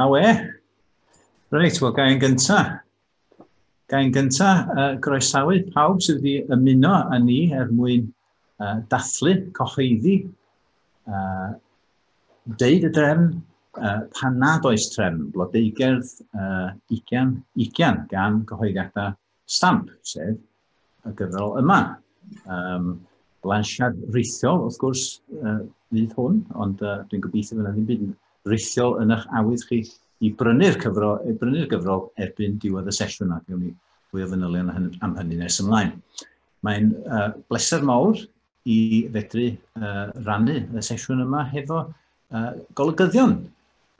A we. Reit, wel, gael yn gyntaf. Gael yn gyntaf, uh, groesawu pawb sydd wedi ymuno â ni er mwyn uh, dathlu, cocheiddi, uh, deud y drefn, uh, pan nad oes trefn, blodeugerdd uh, ugian, ugian gan gyhoeddiadau stamp, sef y gyfrol yma. Um, blansiad rithiol, wrth gwrs, uh, fydd hwn, ond uh, dwi'n gobeithio fydd yna ddim byd rithiol yn eich awydd chi i brynu'r cyfrol, i brynu'r gyfrol erbyn diwedd y sesiwn ac ewn ni fwy o fanylion am hynny nes ymlaen. Mae'n uh, bleser mawr i fedru uh, rannu y sesiwn yma hefo uh, golygyddion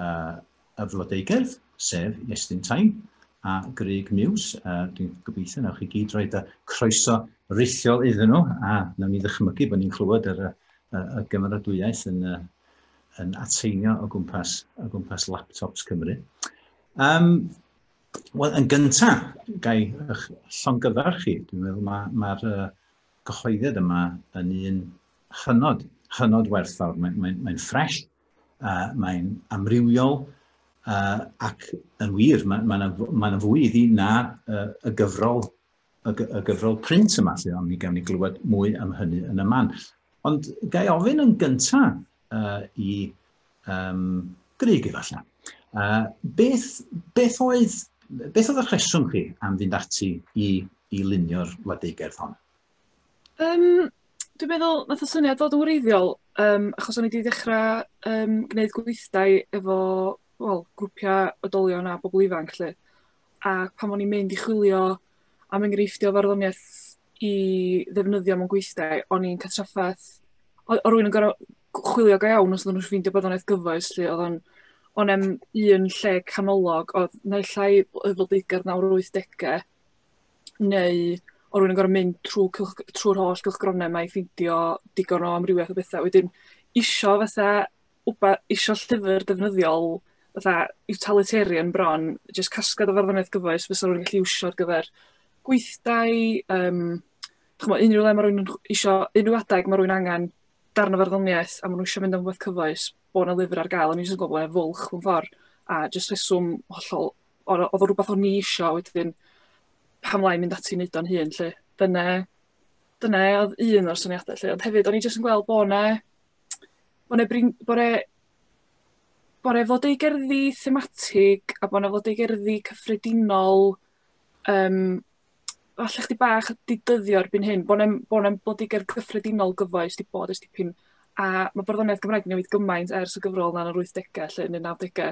uh, y flodeugerdd, sef Iestyn Tain a Greg Muse. Uh, Dwi'n gobeithio nawch chi gyd roed y croeso rithiol iddyn nhw a nawn ni ddychmygu bod ni'n clywed yr, y, y gymeradwyaeth yn, uh, yn ateinio o gwmpas, o gwmpas laptops Cymru. Um, Wel, yn gyntaf, gai eich llongyfarch chi. Dwi'n meddwl mae'r ma, ma uh, gyhoedded yma yn un hynod, hynod werthfawr. Mae'n mae, mae ffres, uh, mae'n amrywiol, uh, ac yn wir, mae yna ma, na, ma na fwy iddi na uh, y gyfrol y, y gyfrol print yma, lle ond mi gawn ni glywed mwy am hynny yn y man. Ond gael ofyn yn gyntaf uh, i um, gryg efallai. Uh, beth, beth, oedd, beth oedd y rheswm chi am fynd ati i, i lunio'r wladeugerdd hon? Um, dwi'n meddwl, nath o syniad fod yn wreiddiol, um, achos o'n i wedi dechrau um, gwneud gweithdai efo well, grwpiau odolion a bobl ifanc. Lle. A pan o'n i'n mynd i chwilio am enghreifftiau farddoniaeth i ddefnyddio mewn gweithdai, o'n i'n cael trafferth... oedd oedd rhywun yn gorfod gw- chwilio go iawn os oedden nhw'n ffeindio bod o'n iaith gyfoes 'lly, oedd o'n... o'n i'm un lle canolog oedd naill ai oedd pobl beichiog nawr yr wythdegau neu oedd rhywun yn gorfod mynd trwy cylch- trwy'r holl gylchgronau 'ma i ffeindio digon o amrywiaeth o bethau. Wedyn isio fatha wba- isio llyfr defnyddiol fatha utilitarian bron, jyst casgliad o farddoniaeth gyfoes fysa rhywun yn gallu iwsio ar gyfer gweithdai, um, chymod, unrhyw le mae rhywun yn isio, unrhyw adeg mae rhywun angen darn o farddoniaeth a maen nhw eisiau mynd am rhywbeth cyfoes, bod yna lyfr ar gael, o'n i'n gwybod bod fwlch mewn ffordd, a jyst rheswm hollol, oedd o rhywbeth o'n i eisiau wedyn pam lai mynd ati wneud o'n hun, lle dyna, dyna oedd un o'r syniadau, lle, ond hefyd o'n i jyst yn gweld bod yna bore brin- bore bore fod eu gerddi thematig a bo' 'na fod eu gerddi cyffredinol yym falle chdig bach di dyddio erbyn hyn bo' 'nem bo' 'nem bod digon cyffredinol gyfoes di bod ers dipyn a ma' barddoniaeth Gymraeg yn newid gymaint ers y gyfrol 'na yn yr wythdege lly yn y nawdege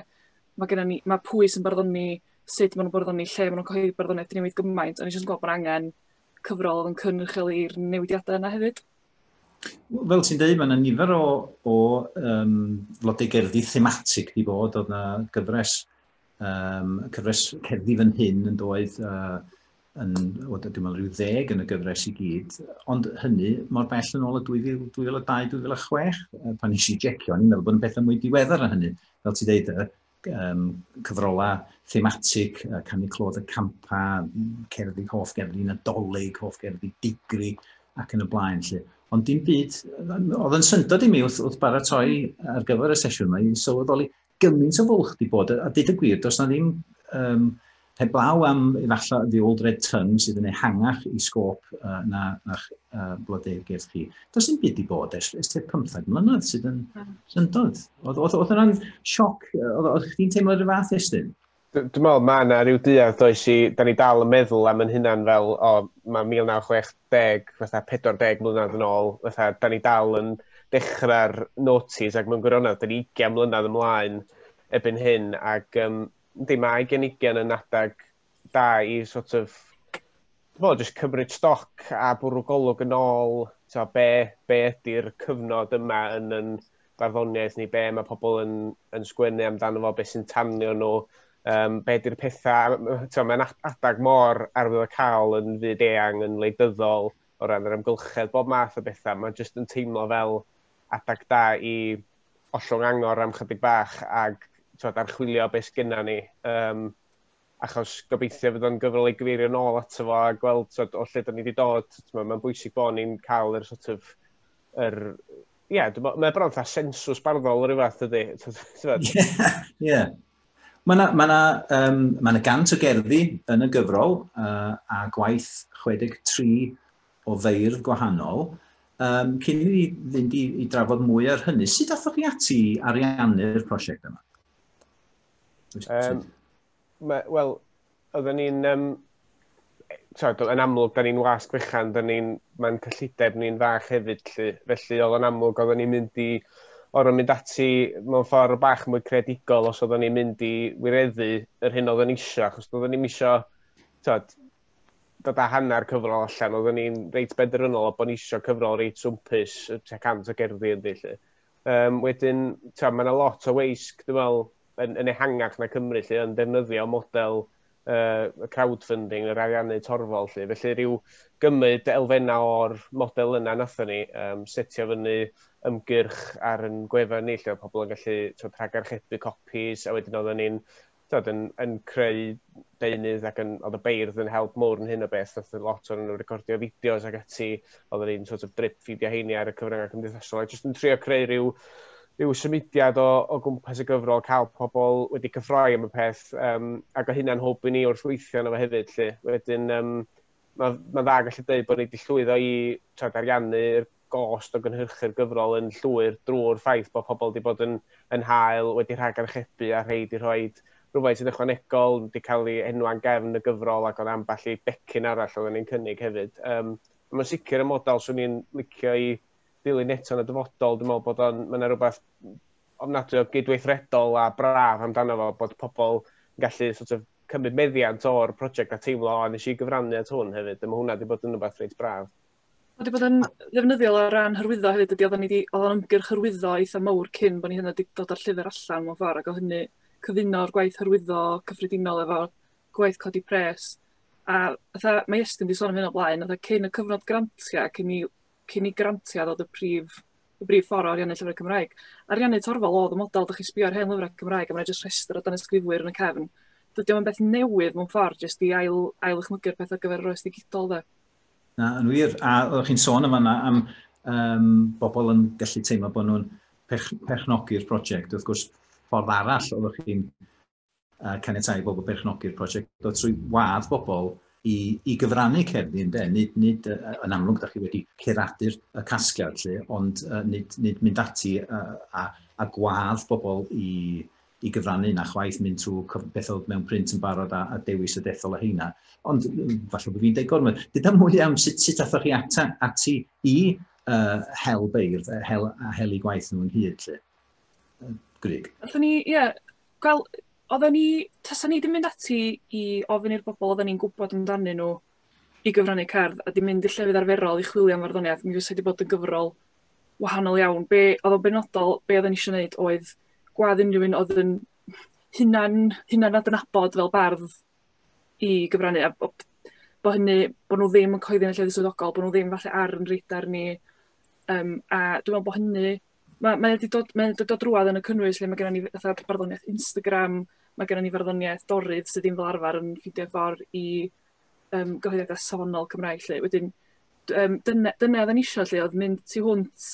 ma' gynnon ni ma' pwy sy'n barddoni sud ma' nw'n barddoni lle ma' nw'n cyhoeddi barddoniaeth 'di newid gymaint o'n i jyst yn gwel' bo' 'na angen cyfrol o'dd yn cynrychioli'r newidiada yna hefyd. Fel ti'n dweud, mae yna nifer o, o um, flodau gerddi thematig di bod, oedd yna gyfres, um, cyfres cerddi fan hyn yn doedd, uh, yn, o, dwi'n meddwl, rhyw ddeg yn y gyfres i gyd, ond hynny mor bell yn ôl y 2002-2006, pan nes i jecio, ni'n meddwl bod yn pethau mwy diweddar na hynny, fel ti dweud, um, cyfrolau thematig, uh, canu clod y campa, cerddi hoff gerddi nadolig, hoff gerddi digri ac yn y blaen. Lle. Ond dim byd, oedd yn syndod i mi wrth, wrth baratoi ar gyfer y sesiwn yma, i'n sylweddoli gymaint o fwlch di bod, a dyd y gwir, does na ddim um, Heblaw am efallai The Old Red Tongue sydd yn ehangach i sgôp uh, na a'ch uh, blodau gerdd chi. Does dim byd i bod ers, ers te 15 mlynedd sydd yn hmm. syndod. Oedd, oedd, oedd yna'n sioc, oedd, oedd chdi'n teimlo'r rhyw fath estyn? Dwi'n meddwl mae yna rhyw duedd does i, da ni dal yn meddwl am yn hynna'n fel, o, mae 1960, fatha 40 mlynedd yn ôl, fatha, da ni dal yn dechrau'r notis ac mae'n gwirionedd, da ni 20 mlynedd ymlaen ebyn hyn, ac um, Yndi, mae gen ugen yn adeg da i sort of Wel, jyst cymryd stoc a bwrw golwg yn ôl, so, be, be ydy'r cyfnod yma yn yn barddoniaeth ni, be mae pobl yn, yn sgwennu amdano fo, beth sy'n tanio nhw, um, be ydy'r pethau, so, mae'n adag mor arwydd o cael yn fyd eang, yn leidyddol, o ran yr amgylchedd, bob math o bethau, mae'n jyst yn teimlo fel adag da i ollwng angor am chydig bach ac twod, archwilio beth sgynna ni. Um, achos gobeithio fydd o'n gyfrol ei gyfeirio nôl ato fo a gweld twod, o lle da ni wedi dod. Mae'n bwysig bod ni'n cael yr sort of, yr, ie, yeah, mae bron fatha sensws barddol o'r fath ydy. Ie. Mae yna ma um, ma gant o gerddi yn y gyfrol uh, a gwaith 63 o feirdd gwahanol. Um, cyn i ni fynd i, i drafod mwy ar hynny, sut athoch chi ati ariannu'r prosiect yma? Um, Wel, oedden ni'n... Um, tywed, yn amlwg, da ni'n wasg fechan, da ni'n, mae'n cyllideb ni'n fach hefyd, lly. felly oedd yn amlwg, oedden ni'n mynd i o'r mynd ati mewn ffordd bach mwy credigol os oedden ni'n mynd i wireddu yr hyn oedden ni eisiau, achos oedden ni'n eisiau, tywed, dod â hanner cyfrol allan, oeddwn ni'n reit benderfynol o bod ni eisiau cyfrol reit swmpus, tua cant o gerddi ynddi, lle. Um, wedyn, mae yna lot o weisg, dwi'n meddwl, yn, yn ehangach na Cymru, lle, yn defnyddio model uh, crowdfunding, yr ariannu torfol, lle. Felly, rhyw gymryd elfennau o'r model yna nathon ni, um, setio fyny ymgyrch ar yn gwefan ni, lle oedd pobl yn gallu twyd, rhagarchebu copis, a wedyn oeddwn ni'n tyd, yn, yn creu deunydd ac yn, oedd y beirdd yn help mowr yn hyn o beth, oedd lot o'n nhw recordio fideos ac ati, oedd yn un sort of drip ffidio heini ar y cyfryngau cymdeithasol, a jyst yn trio creu rhyw, rhyw symudiad o, o gwmpas y gyfrol, cael pobl wedi cyffroi am y peth, um, ac o hynna'n hwb i ni wrth weithio yna fe hefyd, lle. Wedyn, um, mae ma dda gallu dweud bod ni wedi llwyddo i trad ariannu'r gost o gynhyrchu'r gyfrol yn llwyr drwy'r ffaith bod pobl wedi bod yn yn hael, wedi rhagarchebu a rhei wedi rhoi rhywfaint yn ychwanegol, wedi cael ei enwa'n gefn y gyfrol ac oedd ambell i becyn arall oedden ni'n cynnig hefyd. Um, mae'n sicr y model swn i'n licio i ddilyn eto yn y dyfodol. Dwi'n meddwl bod o'n, mae'n rhywbeth ofnadwy o gydweithredol a braf amdano fo bod pobl yn gallu sort of, cymryd meddiant o'r prosiect a teimlo, o, nes i gyfrannu at hwn hefyd. Dyma hwnna wedi bod yn rhywbeth reit braf. Ma' 'di bod yn ddefnyddiol o ran hyrwyddo hefyd dydi? Oddan ni 'di o'dd o'n ymgyrch hyrwyddo eitha mowr cyn bo' ni hyd yn o'd 'di dod â'r llyfyr allan mewn ffor ag o' hynny cyfuno'r gwaith hyrwyddo cyffredinol efo gwaith codi pres a fatha mae Estyn 'di sôn am hyn o blaen fatha cyn y cyfnod grantia cyn i cyn i grantia ddod y prif y brif ffor o ariannu llyfre Cymraeg. Ariannu torfol o'dd y model dych chi sbio ar hen lyfra Cymraeg a ma' 'na jyst rhestr o danysgrifwyr yn y cefn. Dydi o'm yn beth newydd mewn ffor jyst i ail ail ddychmygu'r peth ar gyfer yr oes ddigidol de? Na, yn wir. A oeddech chi'n sôn yma yna am um, bobl yn gallu teimlo bod nhw'n pech, pechnogi'r prosiect. Wrth gwrs, ffordd arall oeddech chi'n uh, caniatau i bobl pechnogi'r prosiect, oedd trwy wadd bobl i, i gyfrannu cerddi yn de. Nid, nid uh, yn amlwg, da chi wedi curadu'r y casgliad lle, ond uh, nid, nid mynd ati uh, a, a gwadd bobl i, i gyfrannu na chwaith mynd trwy cyf- beth oedd mewn print yn barod a, a dewis y dethol o heina. Ond mm, falle bod fi'n deud gormod. Dyda mwy am sut, sut athoch chi ata, ati i uh, hel beirdd, uh, hel, a hel i gwaith nhw yn hyd. Lle. Uh, Grig. Oedden ni, ie, yeah, gwel, oedden ni, tasa ni ddim mynd ati i ofyn i'r bobl oedden ni'n gwybod amdanyn nhw i gyfrannu cerdd a di mynd i llefydd arferol i chwilio am farddoniaeth, mi fysa wedi bod yn gyfrol wahanol iawn. Be' odd o'n benodol be' odden ni isio neud oedd gwadd unrhyw un odd yn hunan hunan adnabod fel bardd i gyfrannu a bo' bo' hynny bo' nw ddim yn cyhoeddi yn y llefydd swyddogol bo' nw ddim falle ar 'yn radar ni yym a dwi me'wl bo' hynny ma' mae o 'di dod mae o'n dod o drwadd yn y cynnwys lle ma' gynnon ni f- fatha barddoniaeth Instagram ma' gynnon ni farddoniaeth Dorydd sy ddim fel arfar yn ffindio ffor i yym gyhoeddiada safonol Cymraeg 'lly wedyn d- yym dyne dyne oddan ni isio 'lly odd mynd tu hwnt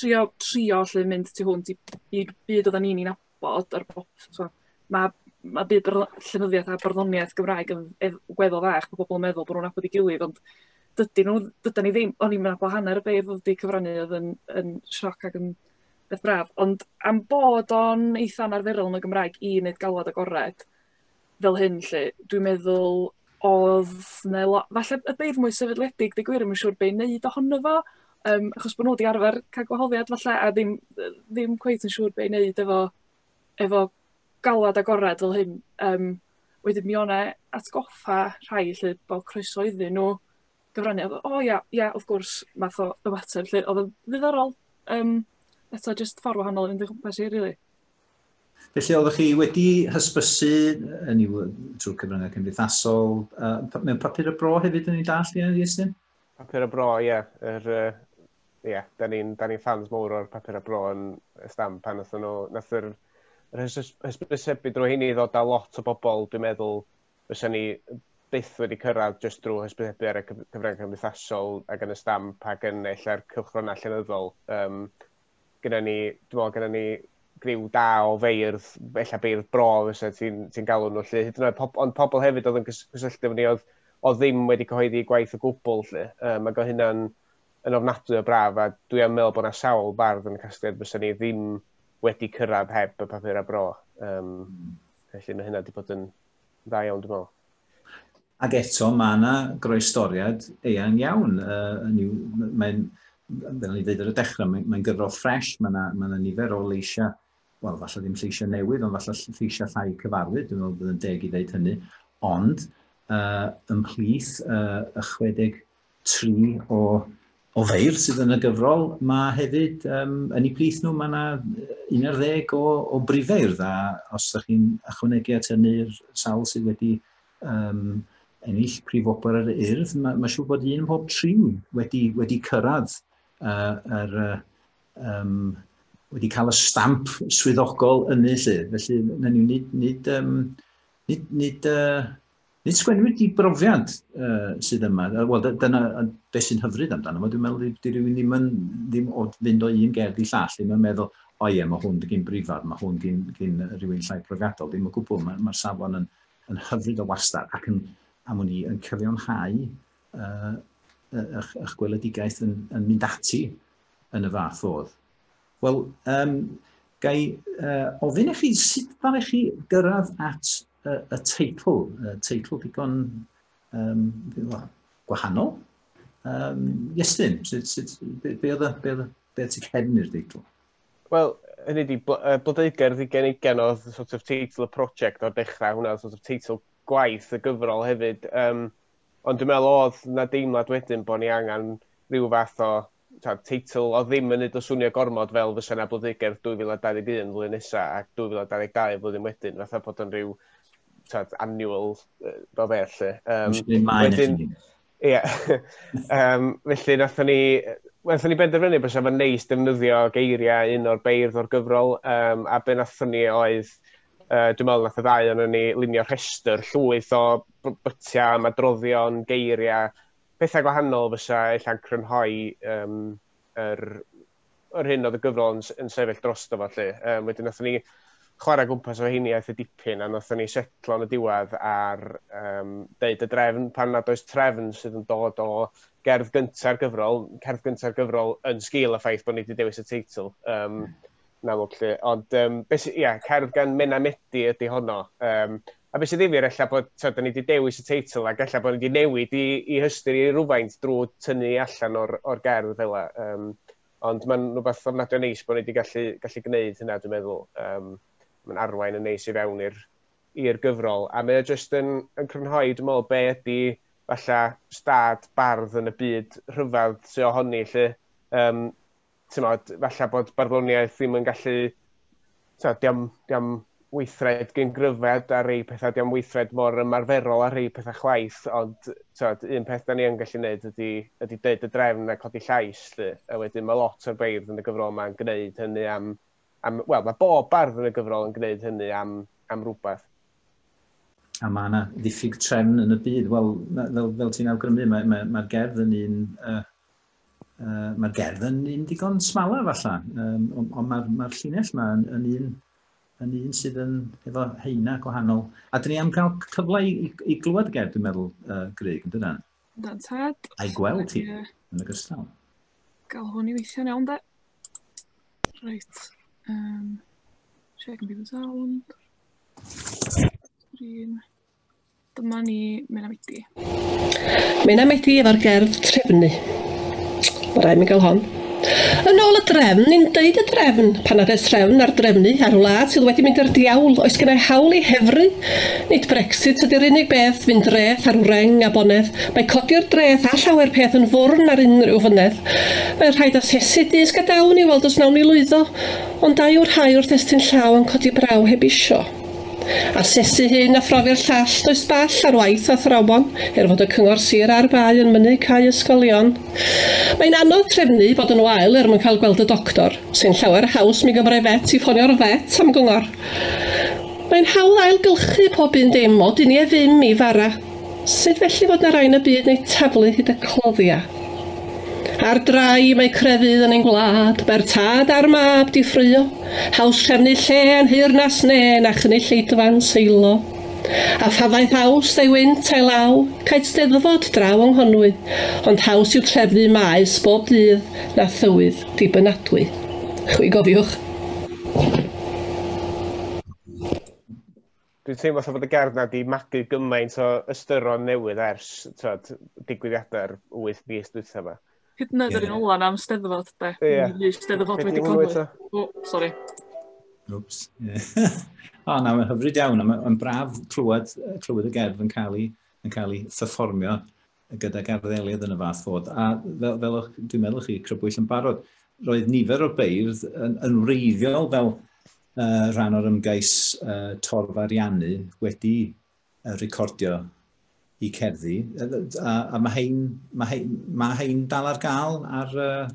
trio trio 'lly mynd tu hwnt i i byd oddan ni'n 'i nabod a'r bo- t'mo' ma' ma' byd yr yy llenyddiaeth a barddoniaeth Gymraeg yn ef- weddol fach ma' pobol yn meddwl bo' nw'n nabod 'i gilydd ond dydi nw dydan ni ddim o'n ni'm yn nabod hanner y beirdd odd 'di cyfrannu odd yn yn sioc ag yn beth braf ond am bod o'n eitha anarferol yn y Gymraeg i neud galwad agored fel hyn 'lly. Dwi'n meddwl odd 'ne lo- falle y beirdd mwy sefydledig deu' gwir 'im yn siŵr be' i neud ohono fo yrm achos bo' nhw 'di arfer ca'l gwahoddiad 'falle a ddim yrr ddim cweit yn siŵr be' i neud efo efo galwad agored fel hyn yrm wedyn mi o' 'ne atgoffa' rhai 'lly bo' croeso iddyn nhw gyfrannu a bo' o ia ia wrth gwrs math o ymateb 'lly o'dd yn ddiddorol yrm eto jyst ffor' wahanol o fynd o gwmpas hi rili. Felly, oeddech chi wedi hysbysu, yn i'w trwy cyfryngau cymdeithasol, uh, mewn papur y bro hefyd yn ei dall, ie, Iestyn? Papur y bro, ie. Yeah. Er, uh, yeah, da ni'n ni fans mawr o'r papur y bro yn y stamp pan nath nhw, nath yr, yr hysbysebu drwy hynny ddod â lot o bobl, dwi'n meddwl, fysa ni byth wedi cyrraedd jyst drwy hysbysebu ar y cyfryngau cymdeithasol ac yn y stamp ac yn ella'r cylchgronau llenyddol. Um, gyda ni, dwi'n meddwl, gyda ni griw da o feirdd, efallai beirdd bro fysa ti'n ti galw nhw lle, hyd yn oed, pob, ond pobl hefyd oedd yn cysylltu efo ni oedd, o ddim wedi cyhoeddi gwaith o gwbl lle. Um, ac oedd hynna'n yn ofnadwy o braf, a dwi am meddwl bod yna sawl bardd yn y casgliad fysa ni ddim wedi cyrraedd heb y papur a bro. Um, felly mae hynna wedi bod yn dda iawn, dwi'n meddwl. Ac eto, mae yna groestoriad eang iawn. Uh, mae'n, fel o'n i ddweud ar y dechrau, mae'n mae gyfrol ffres, mae yna, mae yna nifer o leisiau, wel, falle ddim lleisiau newydd, ond falle lleisiau llai cyfarwydd, dwi'n meddwl bod yn deg i ddeud hynny, ond uh, ymhlith uh, y 60 tri o, o feirdd sydd yn y gyfrol, mae hefyd um, yn eu plith nhw, mae yna un ar ddeg o, o brifeirdd, a os ydych chi'n ychwanegu at hynny'r sawl sydd wedi um, ennill prif wobr yr urdd, mae, mae siŵr bod un pob tri wedi, wedi cyrraedd uh, yr, uh, um, wedi cael y stamp swyddogol yn ei lle. Felly, na ni, nid, nid, um, nid, nid uh, Nid sgwennwyd di brofiad uh, sydd yma. Wel, dyna beth sy'n hyfryd amdano fo. Dwi'n meddwl di rhywun ddim yn ddim o fynd o un gerdd i llall, ddim yn meddwl, o ie, mae hwn gyn brifar, mae hwn gyn, gyn rhywun llai profiadol. Ddim o gwbl, mae'r ma safon yn, yn hyfryd o wastad ac yn, am ni, yn cyfiawnhau uh, eich, eich gweledigaeth yn, yn mynd ati yn y fath fodd. Wel, um, ga i uh, ofyn i chi sut fan i chi gyrraedd at y, y teitl, y teitl digon um, gwahanol. Um, Iestyn, sut, sut, be, be oedd y, be oedd y, be oedd y cefn i'r deitl? Wel, hynny di, Blodeuger ddigen i genodd sort of teitl y prosiect o'r dechrau, hwnna sort of teitl gwaith y gyfrol hefyd. Um, ond dwi'n meddwl oedd na deimlad wedyn bod ni angen rhyw fath o teitl oedd ddim yn neud o swnio gormod fel fysa 'na blodeugerdd 2021 flwyddyn nesa a 2022 y flwyddyn wedyn, fatha bod o'n rhyw t'od annual yy fel fe lle. Yym wedyn ia yym felly nathon ni yy nathon ni benderfynu bysa fo'n neis defnyddio geiriau un o'r beirdd o'r gyfrol um, a be' nathon ni oedd uh, dwi'n meddwl nath y ddau o'n ni lunio rhestr llwyth o bytiau, madroddion, geiriau pethau gwahanol fysa ella'n crynhoi um, yr, yr hyn oedd y gyfrol yn, yn sefyll dros fo. Lle. Um, wedyn, nath ni chwarae gwmpas o heini aeth y dipyn, a nath ni setlo yn y diwedd ar um, deud y drefn pan nad oes trefn sydd yn dod o gerdd gyntaf gyfrol, cerdd gyntaf gyfrol yn sgil y ffaith bod ni wedi dewis y teitl. Um, yn amlwg lle. Ond, um, beth, ia, cerdd gan Mena Medi ydy honno. Um, A be' sy ddifyr ella bod t'od 'dan ni 'di dewis y teitl ac ella bo' ni 'di newid 'i 'i hystyr 'i rywfaint drw tynnu allan o'r o'r gerdd fela yym ond ma'n rwbath ofnadwy o neis bo' ni 'di gallu gallu gneud hynna dwi'n meddwl yym ma'n arwain yn neis i fewn i'r i'r gyfrol a mae o jyst yn yn crynhoi dwi me'wl be' ydi falla stad bardd yn y byd rhyfedd sy ohoni 'lly yym ti'n modd, falle bod barddoniaeth ddim yn gallu, ti'n modd, diam, diam weithred gyn gryfed ar ei pethau, diam weithred mor ymarferol ar ei pethau chwaith, ond tywed, un peth da ni yn gallu gwneud ydy, ydy dweud y drefn a codi llais, lle, a wedyn mae lot o'r beirdd yn y gyfrol yma'n gwneud hynny am, am wel, mae bob bardd yn y gyfrol yn gwneud hynny am, am rhywbeth. A mae yna ddiffyg trefn yn y byd, wel, fel, fel ti'n awgrymu, mae'r mae, mae gerdd yn un uh, uh, mae'r gerdd yn un digon smala falla, um, ond mae'r ma llinell yma yn, yn un yn un sydd yn efo heina gwahanol. A dyn ni am cael cyfle i, i, i glywed y gerdd, dwi'n meddwl, uh, Greg, yn dyna? Dyna'n tad. A'i gweld ti, yeah. yn y gystal. Gael hwn i weithio'n iawn, da. Reit. Um, check and be the sound. Green. Dyma ni Mena Medi. Mena Medi efo'r gerdd trefnu. Mae rhaid mi gael hon. Yn ôl y drefn, ni'n deud y drefn, pan nad oes trefn ar drefnu ar wlad sydd wedi mynd i'r diawl, oes gennau hawl i hefru? Nid Brexit ydy'r unig beth, fynd dreth ar wreng a bonedd, mae codi'r dreth a llawer peth yn fwrn ar unrhyw fynedd. Mae'n rhaid asesu dyst gadawn i weld os nawn ni lwyddo, ond da yw'r rhai wrth estyn llaw yn codi braw heb isio. Asesu hyn a phrofi'r llall, does ball ar waith athrawon, er fod y Cyngor Sir a'r Bae yn mynnu cau ysgolion. Mae'n anodd trefnu, bod yn wael er mwyn cael gweld y doctor, sy'n llawer haws mi gymrai vet i ffonio'r vet am gyngor. Mae'n hawdd ail gylchu pob un dim, o duniau ddim i fara. Sut felly fod 'na rai yn y byd neu taflu hyd y cloddia? Ar drai mae crefydd yn ein gwlad, mae'r tad a'r mab 'di ffraeo, haws trefnu lle a nhŷ'r nas ne na chynnu lleidfan seilo. A phafaeth haws a'i wynt a'i law, caed steddfod draw yng Nghonwy, ond haws yw trefnu maes bob dydd na thywydd dibynadwy. Chwi gofiwch. dwi'n teimlo fatha bod y gerdd na di magu gymaint o ystyron newydd ers tywed, digwyddiadau'r 8 mis dwytha yma. Hyd yn oed yr un ola am steddfod, de. Ie. Ni steddfod wedi codi. O, sori. Oops. o, na, mae'n hyfryd iawn. Mae'n braf clywed, clywed y gerdd yn cael ei, yn cael ei pherfformio gydag arddelydd yn y fath fod. A fel, fel o'ch, dwi'n meddwl chi crybwyll yn barod, roedd nifer o'r beirdd yn, yn wreiddiol fel uh, rhan o'r ymgais uh, torf ariannu wedi uh, recordio i cerddi. A, a mae hein, mae hein, mae hein dal ar gael ar, uh,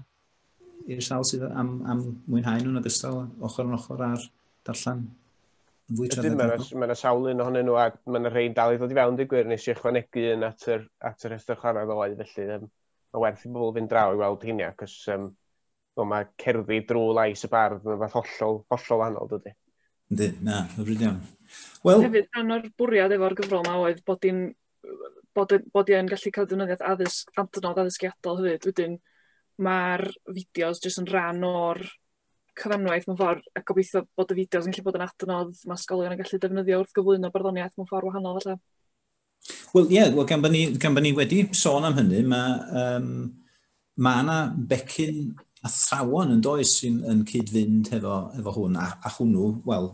i'r sawl sydd am, am mwynhau nhw'n ogystal ochr yn ochr ar darllen yn fwy traddodiadol. Mae yna sawl un ohonyn nhw a mae yna rhain dal i ddod i fewn dy gwir nes i ychwanegu un at yr, at yr rhestr chwarae ddoe felly um, mae werth i bobl fynd draw i weld hynny ac os um, well, mae cerddi drwy lais y bardd yn fath hollol, hollol wahanol dydy. Ynddi, na, hyfryd iawn. Well, Hefyd, rhan o'r bwriad efo'r gyfrol yma oedd bod i'n bod y bod 'i yn gallu ca'l defnyddiaeth addysg adnodd addysgiadol hefyd wedyn ma'r fideos jyst yn rhan o'r cyfanwaith mewn ffor a gobeithio bod y fideos yn gallu bod yn adnodd ma' ysgolion yn gallu defnyddio wrth gyflwyno barddoniaeth mewn ffor wahanol falle. Wel ie, wel gan bo' ni gan bo' ni wedi sôn am hynny ma' yym ma' 'na becyn athrawon yn does sy'n yn cyd-fynd hefo efo hwn a a hwnnw wel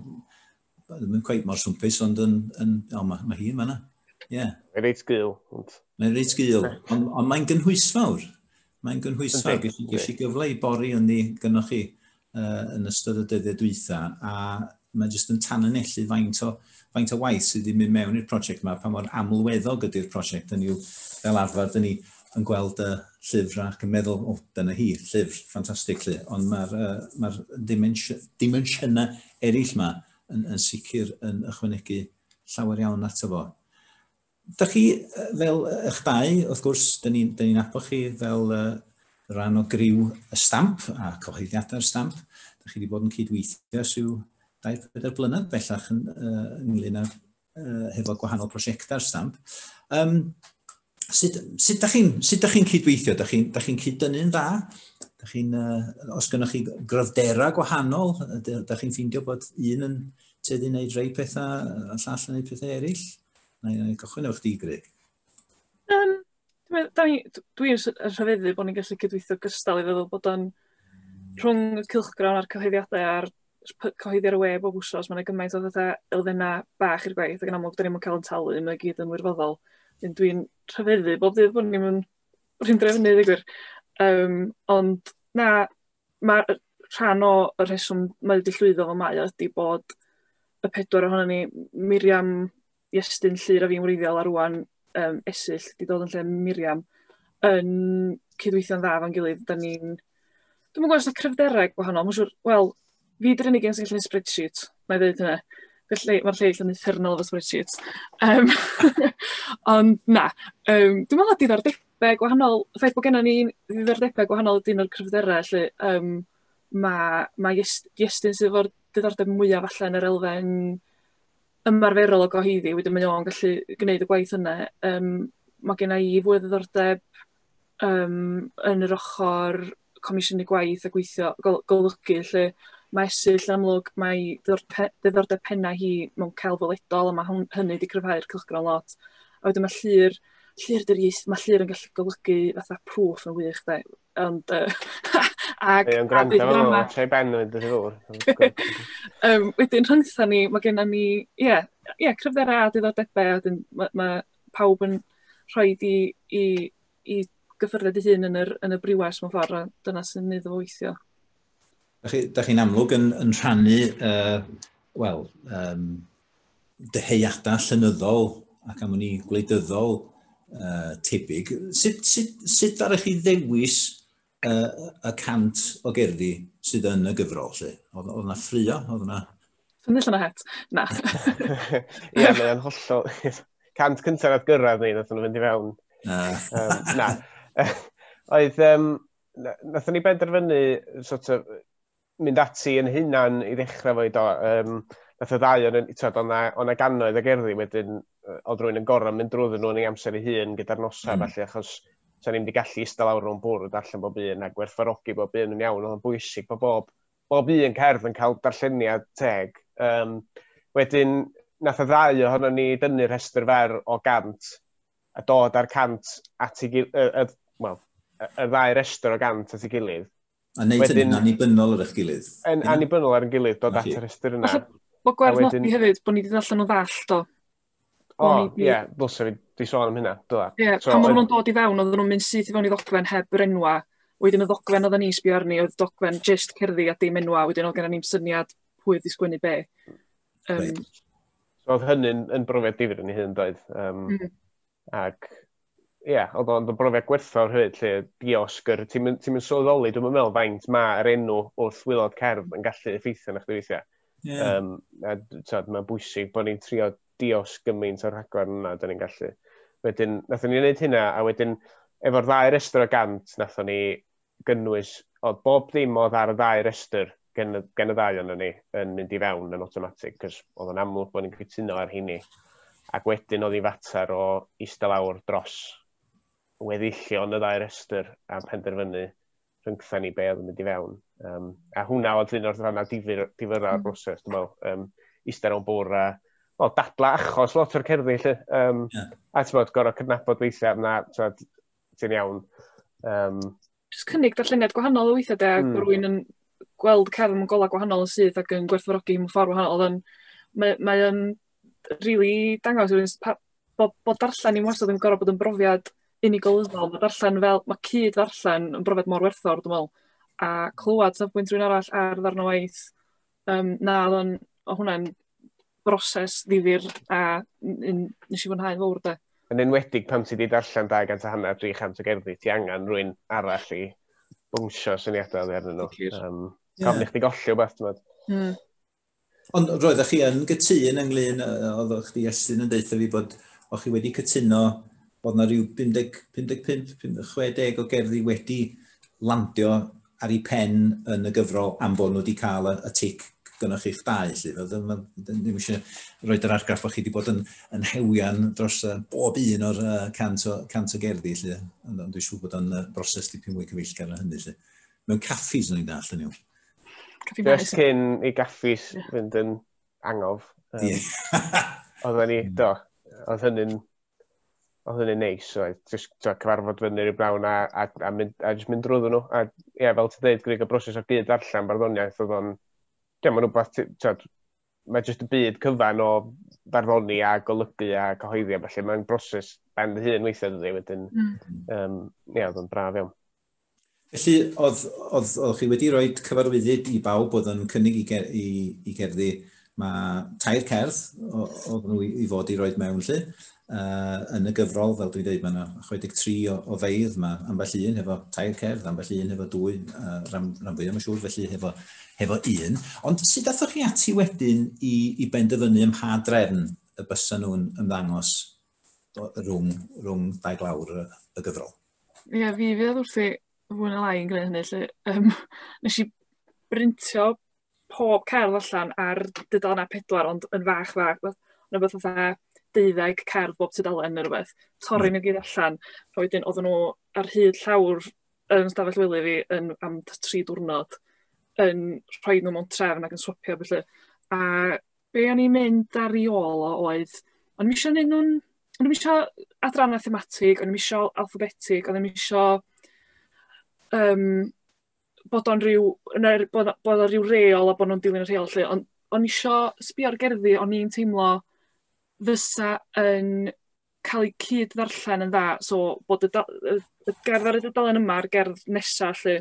ddim yn cweith mor swmpus, ond yn... yn o, mae, mae hi yn fanna. Ie. Yeah. Mae'n reit gul. Ond... Mae'n reit gul, ond, ond mae'n gynhwysfawr. Mae'n gynhwysfawr. Ges i, ges i gyfle i bori yn ni gynnwch chi uh, yn ystod y dyddiau dwytha, a mae jyst yn tan yn ellu faint o, faint o waith sydd wedi mynd mewn i'r prosiect yma, pa mor amlweddog ydy'r prosiect, yn yw fel arfer, dyn ni yn gweld y llyfr ac yn meddwl, o, oh, dyna hi, llyfr, ffantastig lly, ond mae'r uh, ma dimensiynau eraill 'ma yn yn sicr yn ychwanegu llawer iawn ato fo. Da chi fel ych dau, wrth gwrs, da ni'n ni, nabod chi fel uh, rhan o griw y stamp a cyhoeddiadau'r stamp. Da chi wedi bod yn cydweithio syw 24 blynedd bellach yn, uh, ynglyn â'r uh, hefo gwahanol prosiectau ar stamp. Um, sut, sut da chi'n chi, chi cydweithio? Da chi'n chi, chi cyd-dynnu'n dda? Da chi uh, os gynnwch chi gryfderau gwahanol, da chi'n ffeindio bod un yn teddu wneud rhai pethau, a llall yn wneud pethau eraill? Na i gychwyn o'ch di, Greg. Um, Dwi'n rhyfeddu bod ni'n gallu cydweithio gystal i feddwl bod o'n rhwng y cylchgrawn a'r cyhoeddiadau a'r cyhoeddi ar y we bob wsos, mae yna gymaint o fatha elfennau bach i'r gwaith, ac yn amlwg, da ni'n cael yn talu, mae'n gyd yn wirfoddol. Dyn dwi'n rhyfeddu bob dydd bod ni'n mynd rhywun drefnu, ddigwyr. Um, ond, na, mae rhan o y rheswm mae wedi llwyddo fel mae ydy bod y pedwar ohono ni, Miriam, i estyn llyr a fi'n wreiddiol a rwan um, esill di dod yn lle Miriam yn cydweithio'n dda fan gilydd. Da ni'n... Dwi'n gwybod os yna cryfderau gwahanol. Mae'n siŵr, wel, fi dy'r unig yn sy'n gallu spreadsheet, na i ddweud hynna. Mae'r lleill yn uffernol efo spreadsheets. Um, ond na, um, dwi'n meddwl diddordebau gwahanol, y ffaith bod gennym ni ddiddordebau gwahanol ydy un o'r cryfderau, lle um, mae ma Iestyn sydd efo'r diddordeb mwyaf allan yn yr elfen ymarferol o goheiddi, wedyn mae o'n gallu gwneud y gwaith yna. Um, mae gen i fwy o ddiddordeb um, yn yr ochr comisiynu gwaith a gweithio golygu lle mae esill amlwg mae ddiddordeb penna hi mewn cael ddyledol a mae hynny wedi cryfhau'r cylchgron lot. A wedyn mae llir, llir dyr iaith, mae llir yn gallu golygu fatha proof yn wych, da, Ond, uh, ag... Ie, yn gwrando fel yma, tre ben yn mynd i um, wedyn, rhyngtha ni, mae gennym ni, ie, yeah, yeah, cryfderau a diddordebau, a dyn, mae, ma pawb yn rhoi di i, i gyffyrded i hun yn, yr, yn y briwes mewn ffordd, a dyna sy'n neud o weithio. Da chi'n chi amlwg yn, yn rhannu, uh, wel, um, dyheadau llenyddol ac am ni gwleidyddol uh, tebyg. Sut, sut, sut ddara chi ddewis uh, y cant o gerddi sydd yn y gyfrol? Lle? Oedd, oedd yna ffrio? Oedd yna... Yn allan o het? Na. Ie, mae'n hollol... Cant cyntaf oedd gyrraedd ni, nath nhw fynd i fewn. um, na. oedd, um, nath ni benderfynu, sort of, mynd ati yn hunan i ddechrau fo i do. Um, nath y ddau o'n yn, tyd, o'na, o'na gannoedd o gerddi wedyn, oedd rwy'n yn gorau mynd drwyddyn nhw yn ei amser ei hun gyda'r nosau, mm. felly, achos sa'n ni'n mynd i gallu eistedd lawr rhwng bwrdd allan bob un a gwerthfarogi bob un yn iawn, oedd bwysig bod bob, bob un cerdd yn cael darlleniad teg. Um, wedyn, nath y ddau ohono ni dynnu rhestr fer o gant a dod â'r cant at ei gilydd, y, y, well, y, y ddau restr o gant at ei gilydd A wneud hynny'n annibynnol ar eich gilydd. Yn annibynnol ar ein gilydd, dod at yr ystyr yna. Falle bod gwerth wedyn... nodi hefyd, bod ni wedi ddarllen o ddall, do. O, ie, yeah, ddylse fi di sôn am hynna, dyla. Ie, yeah, so, pan oedden nhw'n dod i fewn, oedden nhw'n mynd syth i fewn i ddogfen heb yr enwa. Wedyn y ddogfen oedden ni'n sbio arni, oedd dogfen just cerddi a dim enwa, wedyn oedd gen ni'n syniad pwy wedi sgwennu be. Um, right. So oedd hynny'n yn brofiad difyr yn ei hun, doedd? Um, mm. ac ie, yeah, oedd o'n brofiad gwerthfawr hyd, lle diosg yr... Ti'n mynd, ti mynd sylweddoli, dwi'n meddwl, faint mae'r enw wrth wylod cerdd yn gallu effeithio na chdi weithiau. Yeah. Um, a tyd, mae'n bwysig bod ni'n trio diosg gymaint o'r rhaglen yna, da ni'n gallu. Wedyn, nathon ni'n gwneud hynna, a wedyn, efo'r ddau restr o gant, nathon ni gynnwys, oedd bob dim oedd ar y ddau restr gen, gen y ddau ond ni yn mynd i fewn yn automatic, cos oedd yn amlwg bod ni'n cytuno ar hynny. Ac wedyn oedd i fater o eistedd lawr dros weddillion y ddau restr a penderfynu rhyngtha ni be oedd yn mynd i fewn. Um, a hwnna oedd un o'r rhannau difyr, difyr ar mm. broses, dwi'n meddwl, um, eistedd o'n bwr a well, dadla achos lot o'r cerddi, lle. Um, yeah. A ti'n bod, gorau cydnabod weithiau, na, ti'n bod, ti'n iawn. Um, Just cynnig darlleniad gwahanol o weithiau de, mm. rwy'n yn gweld cerdd mewn golau gwahanol yn syth ac yn gwerthfawrogi mewn ffordd wahanol. Oedd mae, mae yn really dangos rwy'n bod, bod darllen i'n wastad yn gorau bod yn brofiad unigolyddol. Mae darllen fel, mae cyd ddarllen yn brofiad mor werthfawr, dwi'n meddwl. A clywed safbwynt rwy'n arall ar ddarn o waith, Yym na o'dd o'n o' hwnna'n broses ddifyr a n- yn nes i fwynhau fowr 'de. Yn enwedig pan ti 'di darllen 200 a hanner 300 o gerddi ti angen rwy'n arall i bwngsio syniadau oddi arnyn nhw. Sicr. Um, yeah. Gofyn i chdi golli o beth, ti'n meddwl. Mm. Ond roeddech chi yn gytun ynglyn, oeddech chdi Estyn yn deutha fi bod o'ch chi wedi cytuno bod yna rhyw 50, 55, 60 o gerddi wedi landio ar ei phen yn y gyfrol am fod nhw wedi cael y, y tic gynnwch chi'ch dau, lly. Fel, ddim, ddim eisiau rhoi yr argraff bod chi wedi bod yn, yn hewian dros uh, bob un o'r uh, cant, o, cant o gerddi, lly. Ond, ond dwi'n siŵr bod o'n uh, broses dipyn mwy cyfeillgar na hynny, lly. Mewn caffis, o'n i'n dall, yn yw. Just cyn i gaffis fynd yn angof. Um, yeah. Oedden ni, do, oedd hynny'n oedd hynny'n neis, oedd just to, cyfarfod fyny rhyw brawn a, a, a, mynd, a just mynd drwy nhw. A ie, yeah, fel ti'n dweud, gwneud y broses o gyd allan barddoniaeth oedd o'n... Ie, mae'n rhywbeth, ti'n mae jyst y byd cyfan o barddoni a golygu a cyhoeddi a felly mae'n broses ben dy hun weithiau dydy wedyn. Mm. Um, ie, oedd o'n braf iawn. Felly, oedd, oedd, oedd chi wedi rhoi cyfarwyddyd i bawb oedd yn cynnig i, ger, i, i gerddi, mae tair cerdd oedd nhw i fod i roed mewn lle. Uh, yn y gyfrol, fel dwi'n dweud, mae yna 63 o, o feidd, mae ambell un hefo tair cerdd, ambell un hefo dwy, uh, ram, ram fwy am y siŵr, felly hefo, hefo un. Ond sut athoch chi ati wedyn i, i benderfynu ym mha drefn y bysa nhw'n ymddangos rhwng, rhwng dau glawr y gyfrol. Ie, yeah, fi fydd wrth i fwy na lai yn gwneud hynny. Lle, um, nes i brintio pob cerdd allan ar dudalen a pedwar, ond yn fach fach, yn rhywbeth fatha deuddeg cerdd bob tudalen neu rhywbeth, torri hmm. nhw gyd allan, a wedyn oedden nhw ar hyd llawr yn stafell wely fi yn, am tri diwrnod yn rhoi nhw mewn trefn ac yn swapio felly. A be o'n i'n mynd ar ei ôl o oedd, o'n i'm isio neud nhw'n... O'n i'm isio adrannau thematig, o'n i'm isio alphabetig, o'n i'm isio um, bod o'n rhyw, er, bod, bod o'n rhyw reol a bod nhw'n dilyn y rheol lle, ond o'n isio sbio ar gerddi o'n i'n teimlo fysa yn cael eu cyd-ddarllen yn dda, so bod y da- y y gerdd ar y dudalen yma a'r gerdd nesa 'lly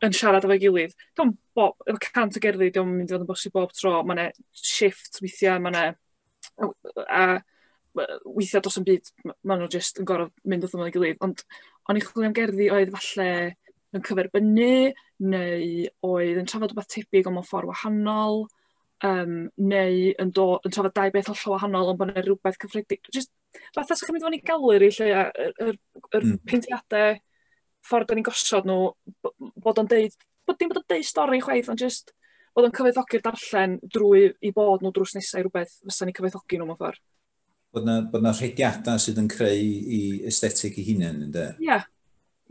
yn siarad efo'i gilydd. Dio'm bo- efo cant o gerddi 'di o'm yn mynd i fod yn bosib bob tro, ma' 'na shifft weithia', ma' 'na a we- weithia' do's 'im byd m- ma' nw jyst yn gor'o' mynd wrth ymyl 'i gilydd, ond o'n i'n chwilio am gerddi oedd falle yn cyferbynnu neu oedd yn trafod rwbath tebyg ond mewn ffor wahanol, Yym, neu yn do- yn trafod dau beth hollol wahanol ond bod 'na rywbeth cyffredi- jyst fatha 'sych chi'n mynd i fewn i gallery 'lly a y yr yr... Hmm. ...peintïade, ffordd 'dan ni'n gosod nhw, b- m- bod o'n deud, bod dim bod o'n deud stori chwaith ond jyst bod o'n cyfoethogi'r darllen drwy 'u bod nhw drws nesa i rywbeth fysan ni'n cyfoethogi nhw mewn ffordd. Bod 'na bod 'na rhediadau sydd yn creu 'u aesthetic 'u hunain ynde? Ia.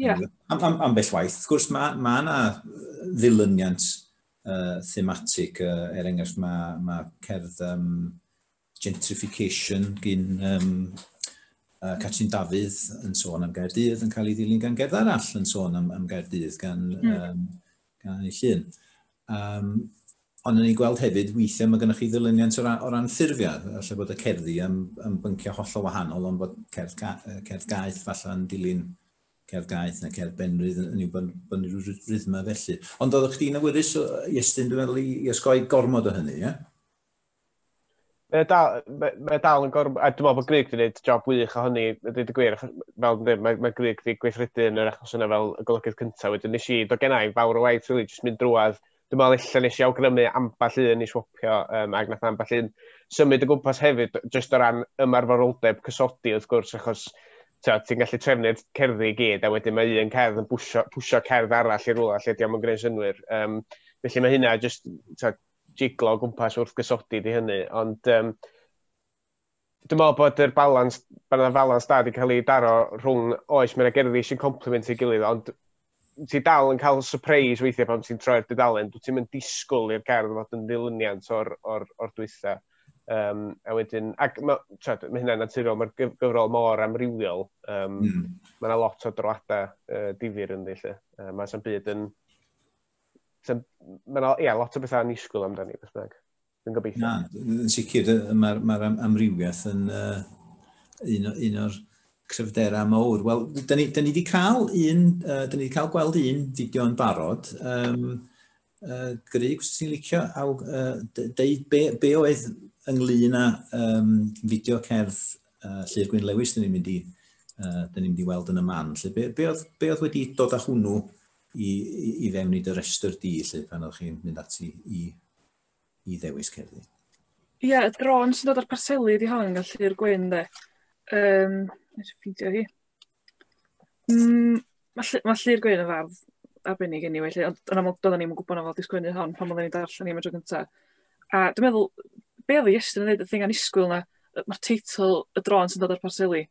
Ia. Am- am- ambell waith wrth gwrs ma' ma' 'na ddilyniant uh, thematig, uh, er enghraifft mae, mae cerdd um, gentrification gyn um, uh, Catrin Dafydd yn sôn am Gaerdydd yn cael ei ddilyn gan gerdd arall yn sôn am, am Gaerdydd gan, mm. um, gan ei llun. Um, Ond yn ei gweld hefyd, weithiau mae gennych chi ddilyniant o ran, o ran ffurfiau, allai bod y cerddi yn, yn bynciau hollol wahanol, ond bod cerdd, ga, cerdd gaeth falle yn dilyn Cerdd gaeth na cerdd benrhydd yn yw bynnu rhyw rythma felly. Ond oeddech chdi'n awyddus, Iestyn, dwi'n meddwl, i osgoi gormod o hynny, ie? Mae dal, mae, mae dal yn gormod, a dwi'n meddwl bod Grig wedi gwneud job wych o hynny, dweud y gwir, achos fel dweud, mae, mae Grig wedi gweithredu yn yr achos yna fel y golygydd cyntaf, wedyn nes i, do gen i fawr o waith, really, jyst mynd drwad, dwi'n meddwl illa nes i awgrymu ambell un i swopio, um, ac nath ambell un symud y gwmpas hefyd, jyst o ran ymarferoldeb cysodi wrth gwrs, achos ti'n gallu trefnu'r cerddi i gyd, a wedyn mae un cerdd yn pwysio, pwysio cerdd arall i rwla lle diolch yn gwneud synwyr. Um, felly mae hynna jyst jiglo gwmpas wrth gysodi di hynny, ond um, Dwi'n meddwl bod yr balans, bod yna falans da wedi cael ei daro rhwng, oes, mae'n gerddi sy'n compliment ei gilydd, ond ti dal yn cael surprise weithiau pan ti'n troi'r dudalen, dwi ti'n mynd disgwyl i'r gerdd fod yn ddilyniant o'r, or, or dwytha. Um, a wedyn, ac mae ma hynna'n naturiol, mae'r gyfrol mor amrywiol, um, mm. mae yna lot o droadau uh, difyr yn ddillu. Uh, mae yna byd yn... Mae yna yeah, lot o bethau annisgwyl amdani, beth bynnag. Dwi'n gobeithio. Na, yn sicr, mae'r ma amrywiaeth yn uh, un, un o'r cryfderau mawr. Wel, da ni, da ni wedi cael un, uh, da ni wedi cael gweld un fideo yn barod. Um, uh, Gryg, os ti'n licio, a, uh, deud be, be oedd ynglyn â um, fideo cerdd uh, Llyr Gwyn Lewis, da ni'n mynd i, uh, da ni'n mynd i weld yn y man. Lle, be, be, oedd, be oedd wedi dod â hwnnw i, i, i fewn i dy restr di, lle, pan oedd chi'n mynd ati i i ddewis cerddi. Ie, y drôn sy'n dod o'r parseli ydi hon, gan Llyr Gwyn, de. Um, Nes i ffeindio hi. Mm, mae Lly- ma Llyr Gwyn yn fardd arbennig anyway, lle, ond yn amlwg doedden ni'n yn gwybod na fod disgwynu hon pan oedden ni'n darllen ni am y tro gyntaf. A dwi'n meddwl, be oedd i Iestyn yn dweud, y thing anisgwyl na, mae'r teitl y drôn sy'n dod o'r parseli.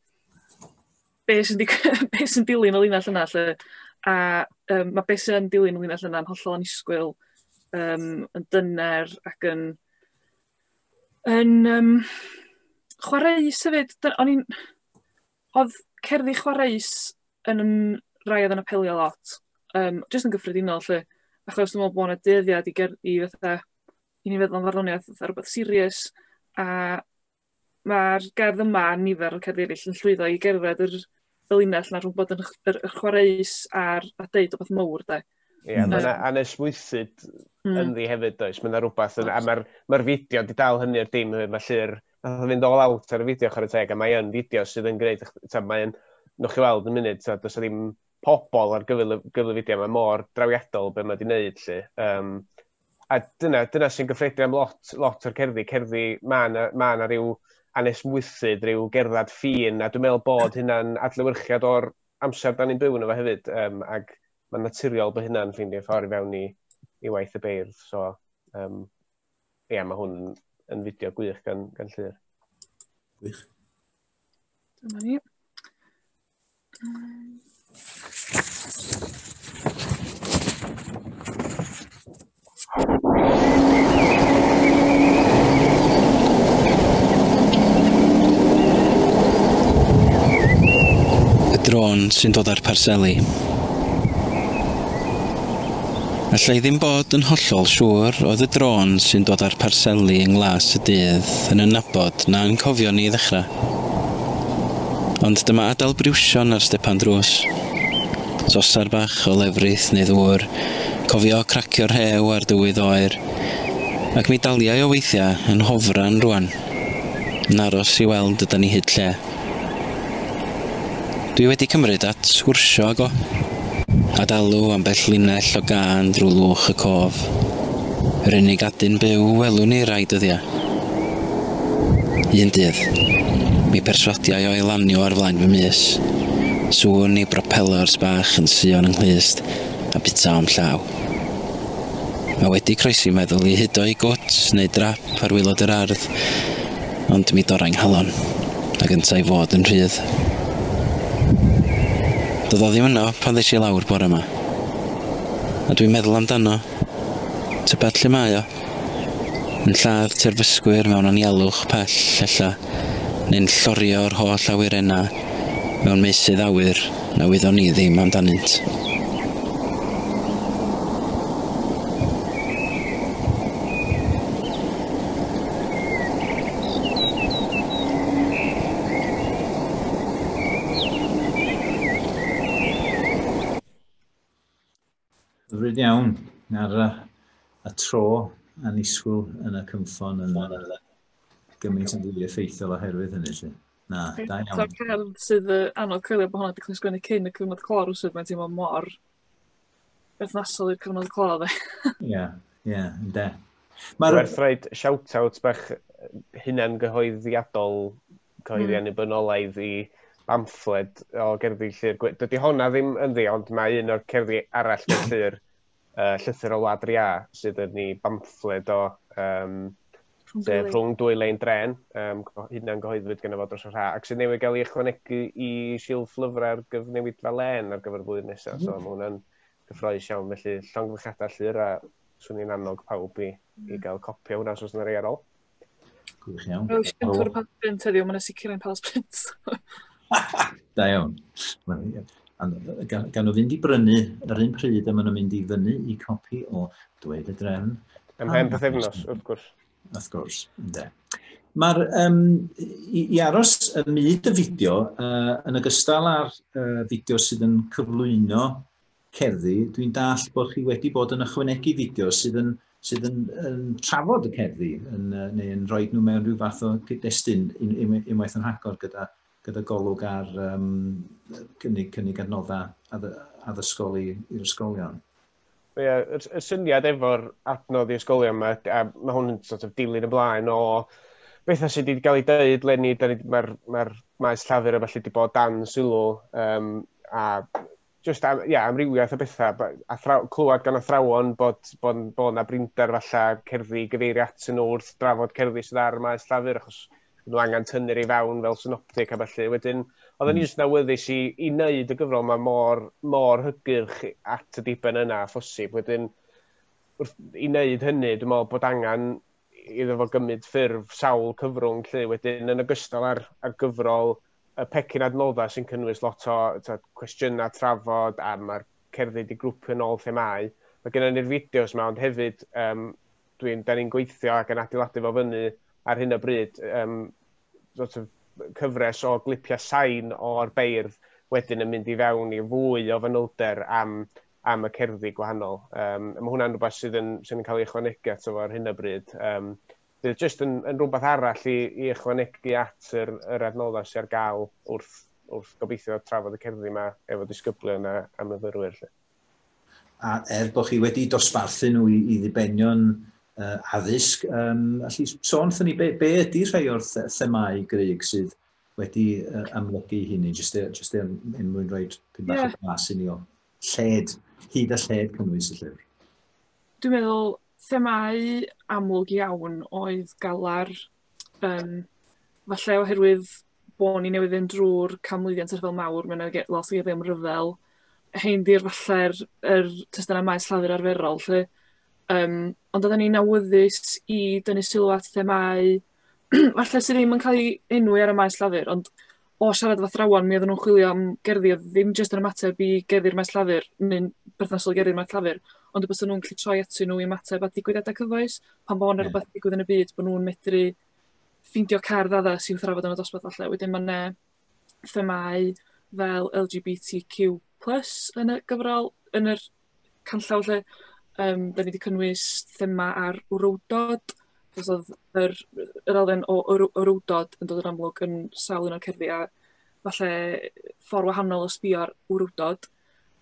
be sy'n be sy'n dilyn y linell yna lle, a um, mae beth sy'n dilyn y linell yna'n hollol anisgwyl, um, yn dyner ac yn, yn um, chwaraeus hefyd. O'n i'n... Oedd cerddi chwaraeus yn yn rai oedd yn apelio lot, um, jyst yn gyffredinol lle, achos dwi'n meddwl bod yna dyddiad i, ger, i fatha, i ni feddwl am farddoniaeth fatha rhywbeth sirius, a ma'r gerdd yma a nifer o cerddi eraill yn llwyddo i gerdded yr y linell 'na rhwng bod yn ch- yr y chwareus a'r a deud rwbeth mowr 'de. Ie ma' 'na anesmwythyd hmm. ynddi hefyd does? Ma' 'na rwbath yn a ma'r ma'r fideo 'di dal hynny i'r dim hefyd ma' lly'r nath o fynd all out ar y fideo chware teg a mae yn fideo sydd yn gwneud t'od mae'n nwch chi weld yn munud t'od does 'na ddim pobol ar gyfer y gyfer y fideo mae mor drawiadol be' ma' 'di neud lly. Um, a dyna, dyna sy'n gyffredin am lot, lot o'r cerddi. Cerddi, mae yna, ma yna rhyw anesmwythyd, rhyw gerddad ffin, a dwi'n meddwl bod hynna'n adlewyrchiad o'r amser da ni'n byw yn efo hefyd, um, ac mae'n naturiol bod hynna'n ffeindio ffordd i fewn i, i waith y beirdd. So, um, ie, yeah, mae hwn yn fideo gwych gan, gan Llyr. Gwych. Dyma ni. drôn sy'n dod â'r parseli. Alla i ddim bod yn hollol siŵr oedd y drôn sy'n dod â'r parseli yng nglas y dydd yn y nabod na'n cofio ni ddechrau. Ond dyma adal briwsion ar stepan drws. Sosar bach o lefrith neu ddŵr, cofio cracio rhew ar dywydd oer. Ac mi daliai o weithiau yn hofran rŵan, yn aros i weld ydan ni hyd lle. Dwi wedi cymryd at sgwrsio ag o, a dalu ambell linell o gân drwy lwch y cof. Yr unig adyn byw welwn i rai dyddiau. Un dydd, mi perswadiai o i lanio ar flaen fy mys. Sŵn i bropelors bach yn suo'n 'y nghlust a bita o'm llaw. Mae wedi croesi meddwl i hudo i gwt neu drap ar waelod yr ardd. Ond mi dorrai 'nghalon, ag yntau fod yn rhydd. Doedd o ddim yno pan ddes i lawr bore 'ma. A dwi'n meddwl amdano. Tybed lle mae o? Yn lladd terfysgwyr mewn anialwch pell, ella, neu'n llorio yr holl awyrennau mewn meysydd awyr, na wyddon ni ddim amdanynt. Hyfryd iawn. Ar y, y tro anisgwyl yn y cymffon yn gymaint yn fwy effeithiol oherwydd hynny. Lle. Na, da iawn. Ta'r cerdd sydd uh, anodd coelio bod hwnna wedi cael ei sgwennu cyn y cyfnod clor os mae'n teimlo mor berthnasol i'r cyfnod clor dde. Ie, ie, de. Mae'r... Werthraid shout-out bach hunan gyhoeddiadol cyhoeddi mm. annibynnol ei ddi bamffled o gerddi llyr. Dydy honna ddim yn ddi, ond mae un o'r cerddi arall mewn llyr, uh, llythyr o Wlad Ria, sydd yn ni bamffled o um, sef rhwng dwy lein dren, um, hynna'n gyhoeddwyd gen y fod dros y rha, ac sydd newid gael ei ychwanegu i silff lyfrau'r gyfnewid fel len ar gyfer y blwyddyn nesaf. So, mm. mae hwnna'n gyffroes iawn, felly llong llongyfychadau llyr a swn i'n annog pawb i, i mm. gael copi o hwnna os oes yna rei ar ôl. Gwych iawn. Rwy'n siŵr Tŵr Pals Print heddiw, mae'n sicr yn Pals Print. da iawn. Gan nhw fynd i brynu yr un pryd a maen nhw'n mynd i fyny i copi o Dweud y Drefn. Ym hen pethefnos, wrth gwrs. Wrth gwrs, ynddo. Mae'r, um, i, i aros y myd y fideo, uh, yn ogystal â'r uh, fideo sydd yn cyflwyno cerddi, dwi'n dallt bod chi wedi bod yn ychwanegu fideos sydd yn, sydd yn, yn trafod y cerddi, yn, neu yn rhoi nhw mewn rhyw fath o gyd-destun unwaith yn rhagor gyda, gyda golwg ar um, cynnig, cynnig adnoddau addysgol i'r ysgolion. Ie, yeah, y, y syniad efo'r adnodd i ysgolion yma, a mae hwn yn sort of dilyn ymlaen o bethau sydd wedi cael ei dweud lenni, mae'r ma maes llafur a falle wedi bod dan sylw um, a just am, yeah, amrywiaeth o bethau, athraw, clywed gan athrawon bod, bod, bod yna brinder falle cerddi gyfeirio at yn ôl wrth drafod cerddi sydd ar y maes llafur, achos nhw angen tynnu'r ei fewn fel synoptic a felly. Wedyn, oedd yn mm. just nawyddus i, i wneud y gyfrol yma mor, mor hygyrch at y diben yna a phosib. Wedyn, wrth, i wneud hynny, dwi'n meddwl bod angen iddo fo gymryd ffurf sawl cyfrwng lle wedyn yn ogystal ar, ar gyfrol y pecyn adnoddau sy'n cynnwys lot o tywed, cwestiynau trafod a mae'r cerddi wedi grwpio yn ôl themau. Mae gennym ni'r fideos yma, ond hefyd um, dwi'n, da ni'n gweithio ac yn adeiladu fo fyny ar hyn o bryd um, sort of, cyfres o glipiau sain o'r beirdd wedyn yn mynd i fewn i fwy o fanylder am, am y cerddi gwahanol. Um, mae hwnna'n rhywbeth sydd yn, sydd yn cael ei ychwanegu ato fo ar hyn o bryd. Um, bydd jyst yn, yn rhywbeth arall i, i ychwanegu at yr, yr adnoddau sy'n ar gael wrth, wrth gobeithio trafod y cerddi yma efo disgyblion a, a myfyrwyr. Lle. A er bod chi wedi dosbarthu nhw i, i ddibenion uh, addysg, um, allu sôn ffynnu, be, be ydy rhai o'r themau gryg sydd wedi uh, amlygu hynny, jyst er, just er, er mwyn rhoi pyn bach yeah. o glas i ni o lled, hyd a lled cynnwys y llyfr? Dwi'n meddwl themâu amlwg iawn oedd galar, um, falle oherwydd bod ni newydd fynd drwy'r canmlwyddiant rhyfel mawr, mae'n ei lot o geiriau am ryfel, hein di'r falle'r er, er testunau maes llafur arferol, lle, um, ond oedden ni'n awyddus i dynnu sylw at themau falle sy ddim yn cael ei enwi ar y maes llafur, ond o siarad efo athrawon, mi oedden nhw'n chwilio am gerddi oedd ddim jyst yn ymateb i gerddi'r maes llafur, neu'n berthnasol i gerddi'r maes llafur, ond y bys nhw'n gallu troi atyn nhw i ymateb at digwyddiadau cyfoes, pan bod yna rhywbeth digwydd yn y byd, bod nhw'n medru ffeindio cerdd addas i'w thrafod yn y dosbarth falle. Wedyn mae'n themâu fel LGBTQ plus yn y gyfrol yn yr canllaw 'lly yym 'dan ni 'di cynnwys thema ar wrywdod achos odd yr yy yr elfen o wry- wrywdod yn dod yn amlwg yn sawl un o'r cerddi a falle ffor wahanol o sbio ar wrywdod.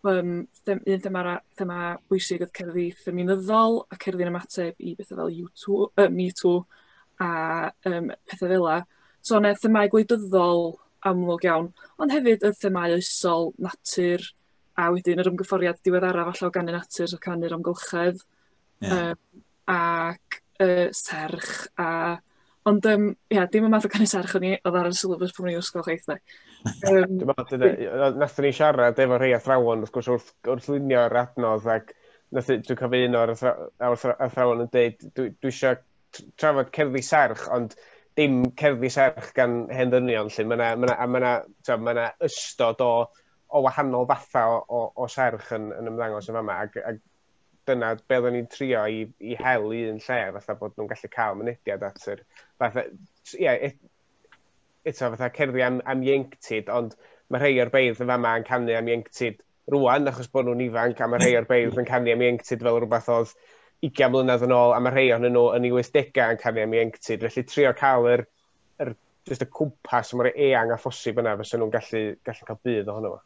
Yym them- un thema ra- thema bwysig oedd cerddi ffeminyddol a cerddi'n ymateb i bethau fel You Too, yy Me Too a yym petha fela. So o' 'ne themâu gwleidyddol amlwg iawn, ond hefyd y themâu oesol, natur, a wedyn yr ymgyfforiad diweddara' falla o ganu natur a canu'r amgylchedd. Ie. Yym ac y serch a... Ond yym ia, dim y math o canu serch o'n i, oedd ar y syllabus pan o'n i'n ysgol chwaith 'de. Yym, Dwi'n meddwl, dyna, nathon ni siarad efo rhai athrawon, wrth gwrs, wrth, wrth lunio'r adnodd, ac nath, i- dwi'n cofio un o'r athra- a'r athra- athrawon yn dweud, dwi, dwi eisiau trafod cerddi serch, ond dim cerddi serch gan hen ddynion, lle mae yna, ma' 'na- a mae yna, t'mod, ma' 'na ystod o, o wahanol fathau o, o, o serch yn, yn ymddangos yn fama, ac, ac dyna be oedden ni'n trio i, i hel un lle, fatha bod nhw'n gallu cael mynediad at yr... Fatha, ie, e, eto fatha cerddi am, am ieunctid, ond mae rhai o'r beirdd yn fama yn canu am ieunctid rwan, achos bod nhw'n ifanc, a mae rhai o'r beirdd yn canu am ieunctid fel rhywbeth oedd 20 mlynedd yn ôl, a mae rhai o'n nhw yn ei 80au yn canu am ieunctid. Felly trio cael yr, yr, just y cwmpas mor eang a phosib yna, fysa nhw'n gallu, gallu cael bydd ohono fo.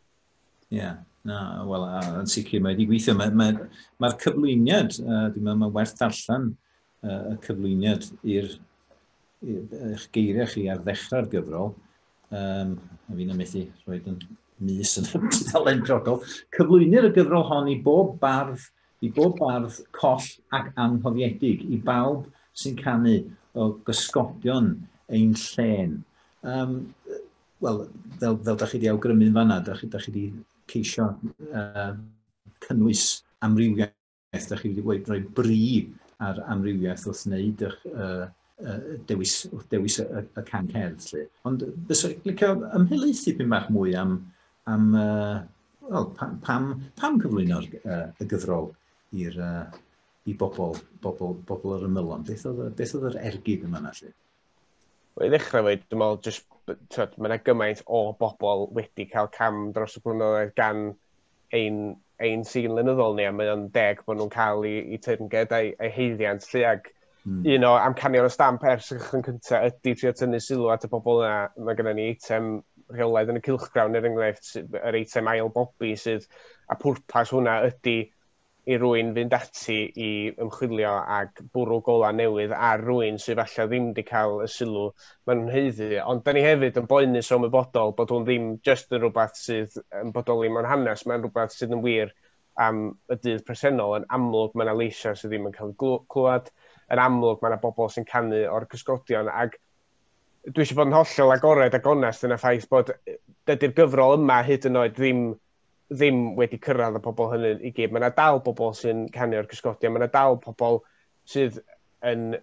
Ie, yeah. na, wel, yn sicr, mae wedi gweithio. Mae'r mae, mae, mae cyflwyniad, uh, dwi'n meddwl, mae werth allan uh, y cyflwyniad i'r eich geiriau chi ar ddechrau'r gyfrol, um, a fi'n ymethu rhoi yn mis yn dalen brodol, cyflwynir y gyfrol hon i bob bardd, i bob bardd coll ac anghofiedig, i bawb sy'n canu o gysgodion ein llen. Um, Wel, fel, fel da chi wedi awgrymu'n fanna, da chi, da chi wedi ceisio uh, cynnwys amrywiaeth, da chi wedi wedi rhoi bri ar amrywiaeth wrth wneud eich uh, uh, dewis, wrth dewis y, y, y can cerdd. Lle. Ond bys o'n licio ymhelaethu pyn bach mwy am, am uh, well, pam, pam, pam cyflwyno'r uh, y gyfrol i'r uh, i bobl, bobl, bobl yr ymylon. Beth oedd, beth oedd yr ergyd yma na lle? i ddechrau fwy, dwi'n meddwl, just, twyd, mae yna gymaint o bobl wedi cael cam dros y blynyddoedd gan ein, ein sîn lynyddol ni, a mae o'n deg bod nhw'n cael ei, ei teyrnged a'i, ei heiddiant, lle ag mm. un o amcanion y stamp ers y cychwyn cyntaf ydy trio tynnu sylw at y bobl yna. Mae gennym ni eitem rheolaidd yn y cilchgrawn, er enghraifft, yr eitem ail bobi sydd, a pwrpas hwnna ydy i rywun fynd ati i ymchwilio ac bwrw golau newydd ar rywun sydd falle ddim wedi cael y sylw maen nhw'n heiddi. Ond da ni hefyd yn boenus o ymwybodol bod hwn ddim jyst yn rhywbeth sydd yn bodoli mewn hanes, mae'n rhywbeth sydd yn wir am y dydd presennol. Yn amlwg mae yna leisiau sydd ddim yn cael eu clywed, yn amlwg mae yna bobl sy'n canu o'r cysgodion ac dwi eisiau bod yn hollol agored a gonest yn y ffaith bod dydy'r gyfrol yma hyd yn oed ddim ddim wedi cyrraedd y pobl hynny i gyd. Mae yna dal bobl sy'n canu o'r cysgodion, mae yna dal pobl sydd yn,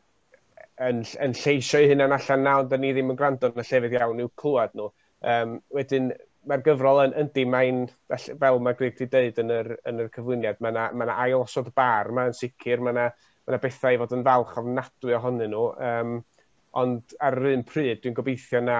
yn, yn lleisio'i hunan allan na, ond ni ddim yn gwrando yn y llefydd iawn i'w clywed nhw. Um, wedyn, mae'r gyfrol yn yndi, mae'n, fel mae Greg wedi dweud yn yr, yn yr cyflwyniad, mae yna ma ail osod bar, mae'n sicr, mae yna ma, na bethau i fod yn falch ofnadwy ohonyn nhw, um, ond ar yr un pryd dwi'n gobeithio na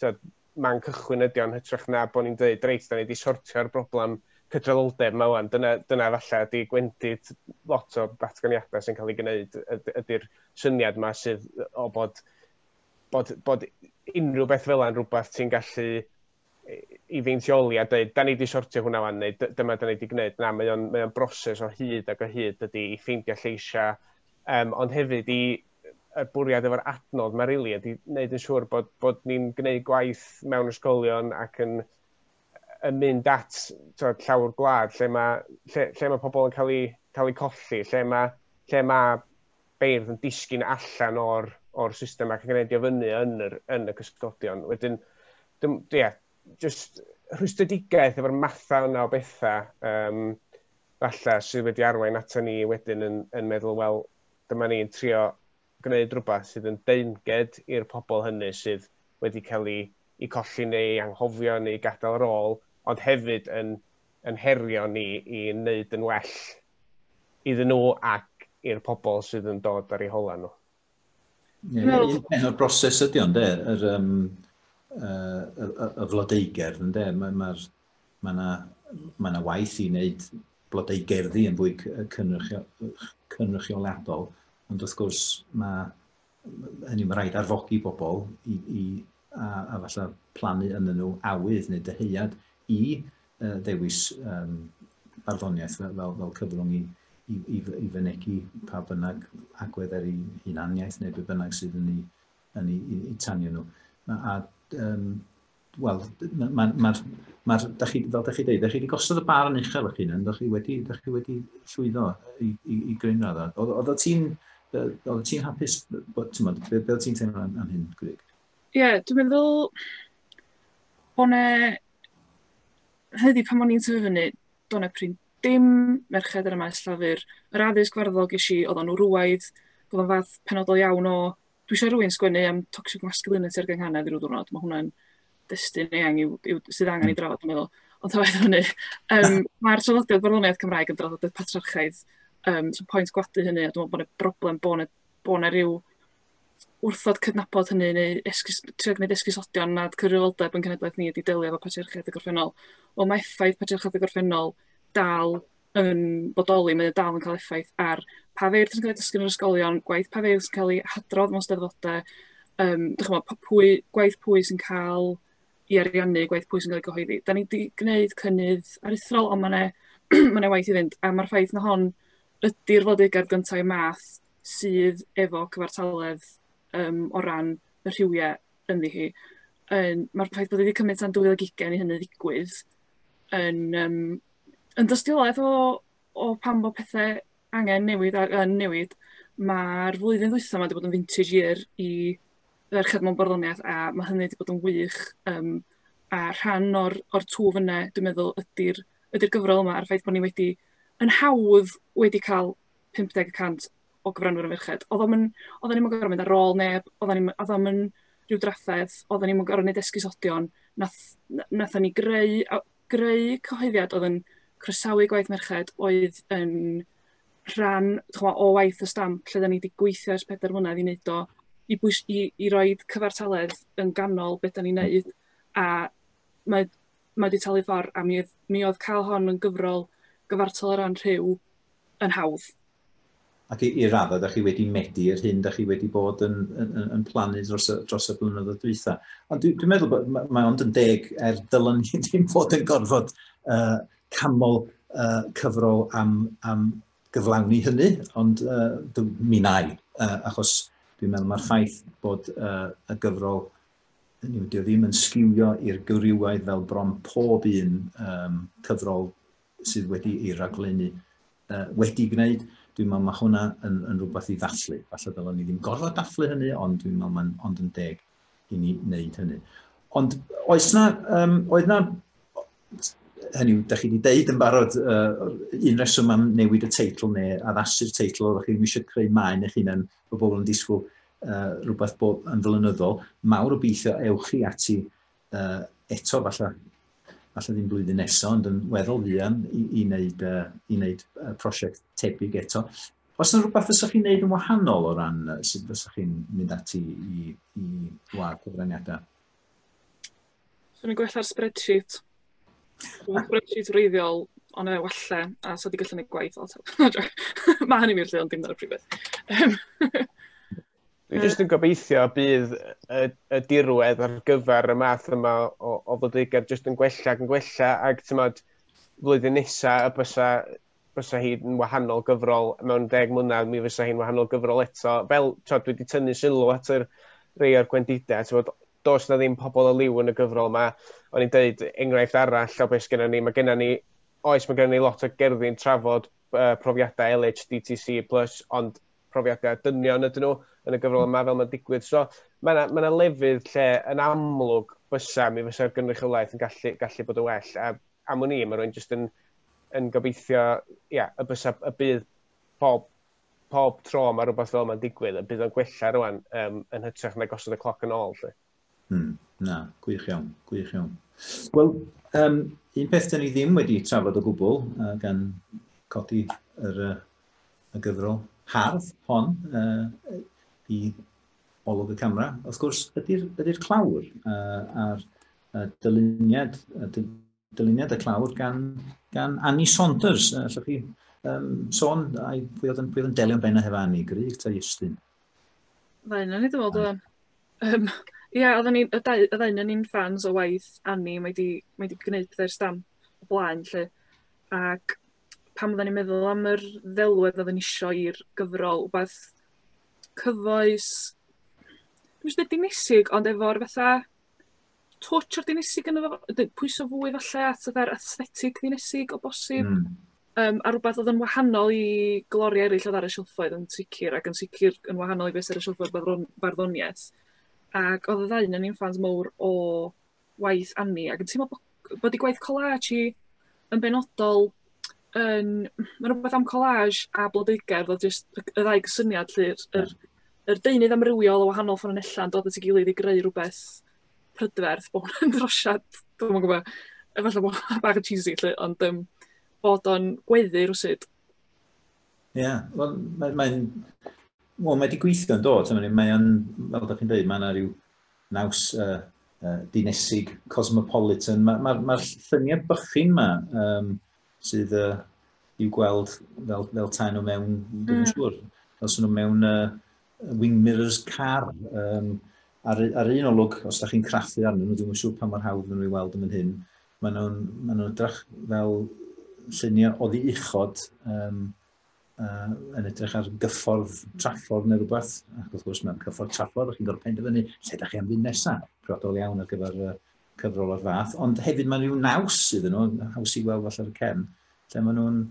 tyd, man cychwyn ydi o'n hytrach na bod ni'n dweud, reit, da ni wedi sortio'r broblem cydraddoldeb yma wan, dyna, dyna falle ydi gwendid lot o ddatganiadau sy'n cael ei gwneud, ydy'r syniad yma sydd o bod, bod, bod unrhyw beth fel yna'n rhywbeth ti'n gallu i feintioli a dweud, da ni wedi sortio hwnna wan, neu dyma da ni wedi gwneud. Na, mae o'n, mae o'n broses o hyd ac o hyd ydy i ffeindio lleisiau, um, ond hefyd i, y bwriad efo'r adnodd mae rili ydy wneud yn siŵr bod, bod ni'n gwneud gwaith mewn ysgolion ac yn, yn mynd at tywed, llawr gwlad lle mae, lle, lle mae pobl yn cael eu, cael eu colli, lle mae, lle mae beirdd yn disgyn allan o'r, or system ac yn gwneud i ofynnu yn, yr, yn y cysgodion. Wedyn, dim, yeah, just rhwystredigaeth efo'r mathau yna o bethau um, falle sydd wedi arwain ato ni wedyn yn, yn meddwl, wel, dyma ni'n trio gwneud rhywbeth sydd yn deyrnged i'r pobl hynny sydd wedi cael eu eu colli neu eu anghofio neu gadael yr ôl, ond hefyd yn yn herio ni i wneud yn well iddyn nhw ac i'r pobl sydd yn dod ar eu holau nhw. Ie, un un peth o'r broses ydy o ynde, yr yym yy y y y flodeugerdd ynde. Mae ma'r Mae yna, mae yna waith i wneud blodau gerddi yn fwy cynrychioladol, ond wrth gwrs mae hynny mae rhaid arfogi bobl i, i a, a falle plannu yn nhw awydd neu dyheuad i uh, ddewis um, barddoniaeth fel, fel, fel cyfrwng i, i, i, i fynegu pa bynnag agwedd ar ei hunaniaeth neu be bynnag sydd yn ei, yn ei, ei tanio nhw. A, a um, wel, mae'r, ma, ma, ma, da chi, fel da chi dweud, da chi wedi gosod y bar yn uchel eich hunan, da chi wedi, da chi wedi llwyddo i, i, i gryn radda. Oedd o ti'n, oedd o ti'n hapus, bod, ti'n modd, beth oedd ti'n teimlo am hyn, Gwrig? Ie, yeah, dwi'n meddwl bod yna, hyddi pan o'n i'n tyfu fyny, do'n e prin dim merched yn y maes llafur. Yr addysg farddol ges i, oedd o'n wrwaidd, oedd o'n fath penodol iawn o dwi eisiau rhywun sgwennu am toxic masculinity ar gynghanedd i ryw ddwrnod. Mae hwnna'n destun eang yw, yw, sydd angen i hmm. drafod, yn meddwl. Ond tawaeth hynny, um, mae'r traddodiad barddoniaeth Cymraeg yn draddodiad patrarchaidd. Um, so pwynt gwadu hynny, a dwi'n meddwl bod yna broblem bod yna, bod yna rhyw wrthod cydnabod hynny neu esgus, trio gwneud esgusodion nad cyfrifoldeb yn cenedlaeth ni ydi delio efo patriarchedd y gorffennol. Ond mae effaith patriarchedd y gorffennol dal yn bodoli, mae o dal yn cael effaith ar pa feirdd sy'n cael ei dysgu yn yr ysgolion, gwaith pa feirdd sy'n cael ei hadrodd mewn steddfodau, um, dychymod, pwy, gwaith pwy sy'n cael i ariannu, gwaith pwy sy'n cael ei gyhoeddi. Da ni wedi gwneud cynnydd aruthrol, ond mae'n ma e waith i fynd, a mae'r ffaith na hon ydy'r fodegad gyntaf i math sydd efo cyfartaledd um, o ran y rhywiau ynddi hi. Um, Mae'r ffaith bod wedi cymryd tan 2020 i hynny ddigwydd yn um, yn dystiolaeth o o pan fo pethe angen newid a yn newid ma'r flwyddyn ddwytha 'ma 'di bod yn vintage year i ferched mewn barddoniaeth a ma' hynny wedi bod yn wych yym a rhan o'r o'r twf yne dwi'n meddwl ydy'r ydy'r gyfrol yma a'r ffaith bod ni wedi yn hawdd wedi cael 50 y cant o gyfranwyr yn ferched. Oedden ni'n oedden ni'n gorfod mynd ar ôl neb, oedden ni'n oedden ni'n rhyw drafferth, oedden ni'n gorfod gwneud esgusodion, nath, nathon ni greu, greu cyhoeddiad oedd yn croesawu gwaith merched oedd yn rhan chwa, o waith y stamp lle da ni wedi gweithio ers pedair mlynedd i wneud o, i, bwys, i, i roi cyfartaledd yn ganol beth da ni'n wneud a mae, mae wedi talu ffordd a mi oedd, mi oedd cael hon yn gyfrol gyfartal o ran rhyw yn hawdd. ac i, i raddau, da chi wedi medu yr hyn da chi wedi bod yn, yn, yn, yn plannu dros y, dros y blynyddoedd dwytha. Ond dwi'n dwi meddwl bod mae, mae ond yn deg er dylwn ni ddim fod yn gorfod uh, camol uh, cyfrol am, am gyflawni hynny, ond uh, dwi, mi nai, uh, achos dwi'n meddwl mae'r ffaith bod uh, y gyfrol hynny wedi ddim yn sgiwio i'r gyriwaidd fel bron pob un um, cyfrol sydd wedi ei raglennu uh, wedi gwneud, dwi'n meddwl mae hwnna yn, yn rhywbeth i ddathlu. Falle ddylwn ni ddim gorfod dathlu hynny, ond dwi'n meddwl mae'n ond yn deg i ni wneud hynny. Ond oes na, um, oedd na, hynny, da chi wedi deud yn barod uh, un reswm am newid y teitl neu addasu'r teitl, oeddech chi ddim eisiau creu maen eich hunain o bobl yn disgwyl uh, rhywbeth bob yn flynyddol. Mawr o beithio ewch chi ati uh, eto falle, falle ddim blwyddyn nesaf, ond yn weddol fuan i, i wneud, uh, i wneud uh, prosiect tebyg eto. Os yna rhywbeth fysa chi'n wneud yn wahanol o ran uh, sut fysa chi'n mynd ati i, i wlad cyfraniadau? Swn i'n gwella'r spreadsheet. Mae'n spreadsheet wreiddiol, ond e walle, a so di gallu gwneud gwaith. Mae hynny'n wir lle, ond dim dyna'r prifedd. Dwi jyst yn gobeithio bydd y, y dirwedd ar gyfer y math yma o, o fodegau jyst yn gwella ac yn gwella ac tymod flwyddyn nesa y bysa, bysa hi'n wahanol gyfrol mewn deg mlynedd mi fysa hi'n wahanol gyfrol eto fel tymod dwi wedi tynnu sylw at yr rei o'r gwendidau tymod dos na ddim pobl o liw yn y gyfrol yma o'n i'n deud enghraifft arall o beth gennym ni mae gennym ni oes mae gennym ni lot o gerddi'n trafod uh, profiadau LHDTC plus ond profiadau a dynion ydyn nhw yn y gyfrol yma fel mae'n digwydd. So mae yna ma lefydd lle yn amlwg fysa mi fysa'r gynrychiolaeth yn gallu, gallu bod yn well. A am wn i, mae rwy'n jyst yn, yn gobeithio ia, y, bysa, y bydd pob, pob tro mae rhywbeth fel yma'n digwydd, y bydd o'n gwella rwan um, yn hytrach na gosod y cloc yn ôl. Lle. Hmm, na, gwych iawn, gwych iawn. Wel, um, un peth dyn ni ddim wedi trafod o gwbl, uh, gan codi yr, uh, y gyfrol hardd hon uh, i olwg y camera, wrth gwrs, ydy'r ydy clawr uh, a'r uh, dyluniad, uh, Dyluniad y clawr gan, gan Annie Saunders. Uh, allwch chi um, sôn, ai, pwy oedd yn, pwy oedd yn delio'n benna hefo Annie? Gryg ta Iestyn? Ddain yn ei ddod o'n. Um, Ie, yeah, oedden ni, y dau, y ddau yn ni'n ffans o waith Annie, mae di, mae di gwneud pethau'r stam o blaen, lle. Ac pan oedden ni'n meddwl am yr ddelwedd oedden ni eisiau i'r gyfrol, wbeth cyfoes, dwi'n siŵr di misig, ond efo'r fatha touch o'r dinesig yn efo, pwyso fwy falle at yr aesthetic ddinesig o bosib. Mm. Um, a rhywbeth oedd yn wahanol i gloriau eraill oedd ar y silffoedd yn sicr, ac yn sicr yn wahanol i beth ar y silffoedd barddoniaeth. Ac oedd y ddau yn i'n ffans mawr o waith Annie, ac yn teimlo bod bod ei gwaith collage hi yn benodol yn... Mae 'na rhywbeth am collage a blodeugardd a jyst y y ddau gysyniad 'lly yr yr yr deunydd amrywiol o wahanol ffynonellau yn dod at ei gilydd i greu rhywbeth prydferth. Bod hwnna'n drosiad, dwi'm yn gwybod, efallai bod hwnna'n bach yn cheesy 'lly ond yym bod o'n gweddu rywsut. Ie, yeah. wel mae'n... Mae, mae, mae wedi gweithio'n dod, mae o'n, fel ydych chi'n dweud, mae yna rhyw naws uh, uh, dinesig, cosmopolitan. Mae'r ma, ma, ma lluniau bychin yma um, sydd uh, i'w gweld fel, fel taen o mewn, mm. dwi'n siŵr, fel sy'n nhw mewn uh, wing mirrors car. Um, ar, ar un olwg, os da chi'n craffu arnyn nhw, dwi'n siŵr pa mor hawdd nhw'n ei weld yn mynd hyn, maen nhw'n ma nhw drach fel lluniau oddi uchod um, uh, yn edrych ar gyffordd traffordd neu rhywbeth, ac wrth gwrs mae'n cyffordd traffordd, chi'n gorfod penderfynu lle da chi am fynd nesaf, priodol iawn ar gyfer uh, cyfrol o'r fath, ond hefyd mae'n rhyw naws iddyn nhw, haws i weld falle ar y cefn, lle maen nhw'n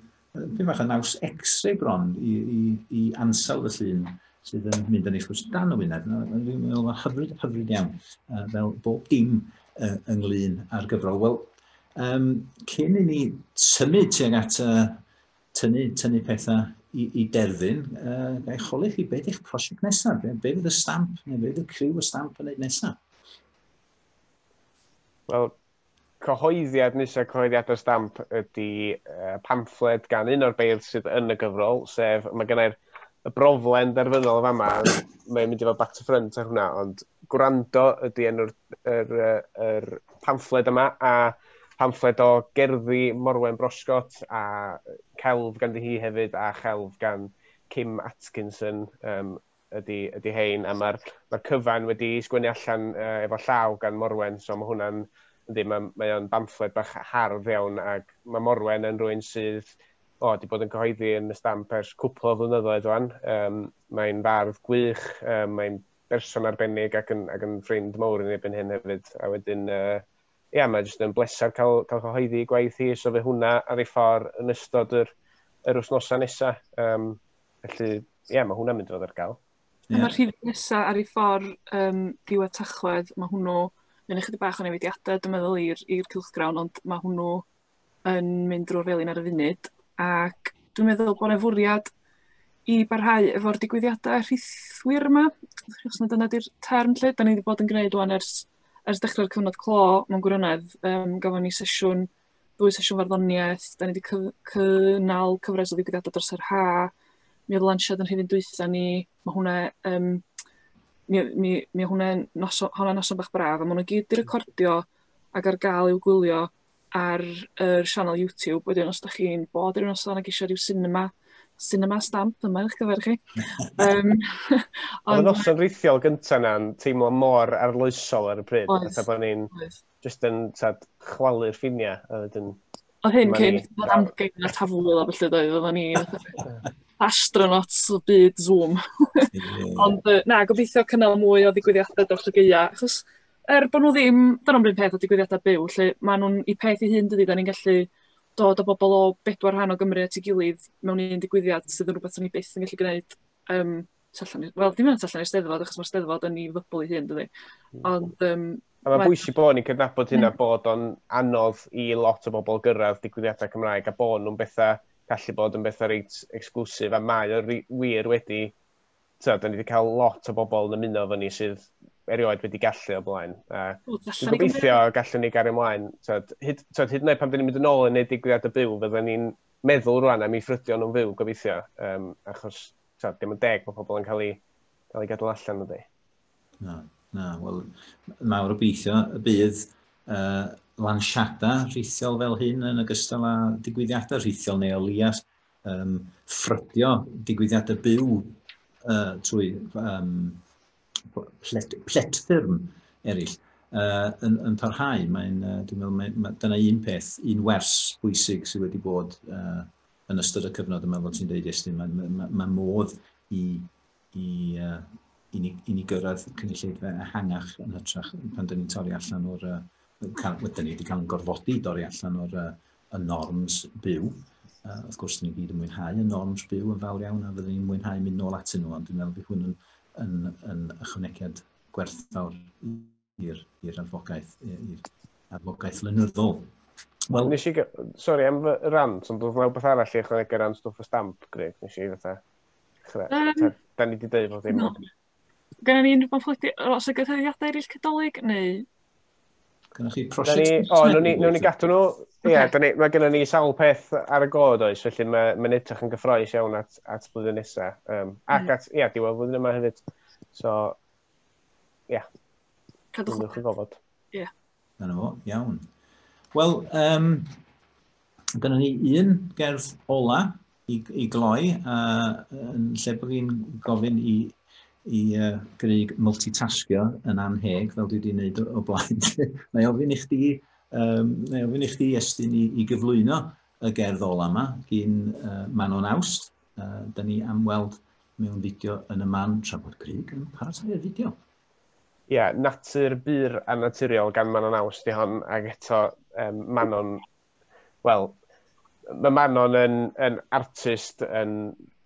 pyn bach yn naws x-ray bron i, i, i ansawdd y llun sydd yn mynd yn eich wrth dan y wyneb. Mae'n meddwl hyfryd, hyfryd iawn, uh, fel bob dim uh, ynglyn â'r gyfrol. Wel, um, cyn i ni symud tuag at uh, tynnu, tynnu pethau i, i derfyn, uh, gael eich holi chi, beth eich prosiect nesaf? Be, be fydd y stamp, neu be fydd y criw y stamp yn ei nesaf? Wel, cyhoeddiad nesaf cyhoeddiad y stamp ydy uh, pamffled gan un o'r beirdd sydd yn y gyfrol, sef mae gennau'r y broflen derfynol yma, mae'n mynd i fod back to front ar hwnna, ond Gwrando ydy enw'r yr, yr pamffled yma, a pamffled o gerddi Morwen Broscott, a celf ganddi hi hefyd, a chelf gan Kim Atkinson um, ydy, ydy hein, a mae'r ma cyfan wedi sgwennu allan uh, efo llaw gan Morwen, so mae hwnna'n, yndi, mae, mae o'n bamffled bach hardd iawn, ac mae Morwen yn rwy'n sydd o, wedi bod yn cyhoeddi yn y stamp ers cwpl o flynyddoedd o'n. Um, mae'n fardd gwych, um, mae'n berson arbennig ac yn, ac yn ffrind mawr yn ebyn hyn hefyd. A wedyn, uh, ia, mae jyst yn bleser cael, cael cyhoeddi gwaith hi, so fe hwnna ar ei ffordd yn ystod yr, yr wythnosau nesaf. Um, felly, ia, mae hwnna'n mynd fod ar gael. Yeah. A mae'r rhif nesaf ar ei ffordd um, diwedd tachwedd, mae hwnnw, mae'n eich bach o newidiadau, dwi'n meddwl, i'r cylchgrawn, ond mae hwnnw yn mynd drw'r felin ar y funud ac dwi'n meddwl bod 'na fwriad i barhau efo'r digwyddiadau rhithwir yma, os na dyna 'di'r term lly. 'Dan ni 'di bod yn gwneud rŵan ers ers dechrau'r cyfnod clo mewn gwirionedd. Yym gafon ni sesiwn, ddwy sesiwn farddoniaeth, 'dan ni 'di cyf- cynnal cyfres o ddigwyddiadau dros yr ha. Mi oedd lansiad yn rhifyn dwytha ni, mae hwnna um, mi, mi, mi hwnna noson, hwnna noson bach braf, a maen nhw gyd wedi recordio ac ar gael i'w gwylio ar yr sianel YouTube, wedyn os ydych chi'n bod i'r noson ac eisiau rhyw cinema, cinema stamp, dyma eich gyfer chi. um, Oedd y noson rhithiol gyntaf na'n teimlo mor arloesol ar y pryd, oedd, fatha bod ni'n just yn tad, chwalu'r ffiniau. Oedd hyn cyn bod amgen a tafwyl a felly doedd, oedd ni astronauts o byd Zoom. Ond na, gobeithio cynnal mwy o ddigwyddiadau dros y geia, achos Er bod nhw ddim dyna'n run peth a digwyddiadau byw 'lly, maen nhw'n eu peth eu hun dydi? Dan ni'n gallu dod â bobl o bedwar rhan o Gymru at ei gilydd mewn un digwyddiad sydd yn rhywbeth 'sen ni byth yn gallu gwneud yym tu allan i... wel dim ond tu allan i'r Steddfod achos mae'r Steddfod yn ei fybl ei hun dydi? Hmm. Ond yym... A mae'n bwysig bod ni'n cydnabod hynna hmm. bod o'n anodd i lot o bobl gyrraedd digwyddiadau Cymraeg a bod nhw'n bethau gallu bod yn bethau reit exclusive a mae o wir wedi da ni wedi cael lot o bobl yn ymuno fy ni sydd erioed wedi gallu o blaen. A dwi'n gobeithio gallwn ni gario ymlaen. Tyd, hyd, tyd, hyd yn oed pan dyn ni'n mynd yn ôl yn ei digwyddiad y byw, fydden ni'n meddwl rwan am ei ffrydion nhw'n fyw, gobeithio. Um, achos, tyd, dim yn deg bod pobl yn cael ei, cael ei gadw allan ydy. Na, na, wel, mawr obeithio y bydd uh, lansiadau rhithiol fel hyn yn ogystal â digwyddiadau rhithiol neu o leiaf um, ffrydio digwyddiadau byw uh, trwy um, plet, pletfyrm eraill uh, yn, yn parhau. Mae'n, uh, dwi'n meddwl, mae, mae, dyna un peth, un wers bwysig sydd wedi bod uh, yn ystod y cyfnod yma, fel ti'n dweud, Estyn, mae, mae, mae, mae modd i, i, uh, i, ni, i ni gyrraedd cynulleidfa ehangach yn hytrach pan dyn ni'n torri allan o'r... Uh, wedi ni wedi cael yn gorfodi dorri allan o'r uh, y norms byw. Uh, wrth gwrs, ni'n gyd yn mwynhau y norms byw yn fawr iawn a fyddwn ni'n mwynhau mynd nôl atyn nhw, ond dwi'n meddwl bod hwn yn, yn, yn ychwanegiad gwerthfawr i'r advocaeth, i'r advocaeth lynyddol. Wel, nes i... Sorry, am fy rant, ond oedd rhywbeth arall i ychwanegu ran stwff y stamp, Greg, nes i fatha... Um, da ni wedi dweud bod dim... Gynna ni unrhyw bamffledi- o, oes 'na gyhoeddiadau eraill Cadolig, neu... Gynna chi prosiect... O, nhw'n ni gadw nhw. Ie, okay. ni, mae gennym ni sawl peth ar y god oes, felly mae'n ma edrych yn gyffroes iawn at, at flwyddyn nesaf. Um, ac mm. at, ie, yeah, diwedd flwyddyn yma hefyd. So, ie. Yeah. Cadwch yn gofod. Ie. Yeah. Dyna fo, iawn. Wel, um, dyna ni un gerdd ola i, i gloi, a yn lle bod fi'n gofyn i, i uh, Grig multitaskio yn anheg, fel dwi wedi gwneud o, o blaen. Mae ofyn i chdi, um, mae ofyn i chdi estyn i, i gyflwyno y gerdd ola yma gyn uh, Manon Awst. Uh, da ni am weld mewn fideo yn y man tra bod Grig yn paratoi'r fideo. ie, natur bur a naturiol gan Manon Aus di hon, ac eto um, Manon, wel, mae Manon yn, yn artist yn,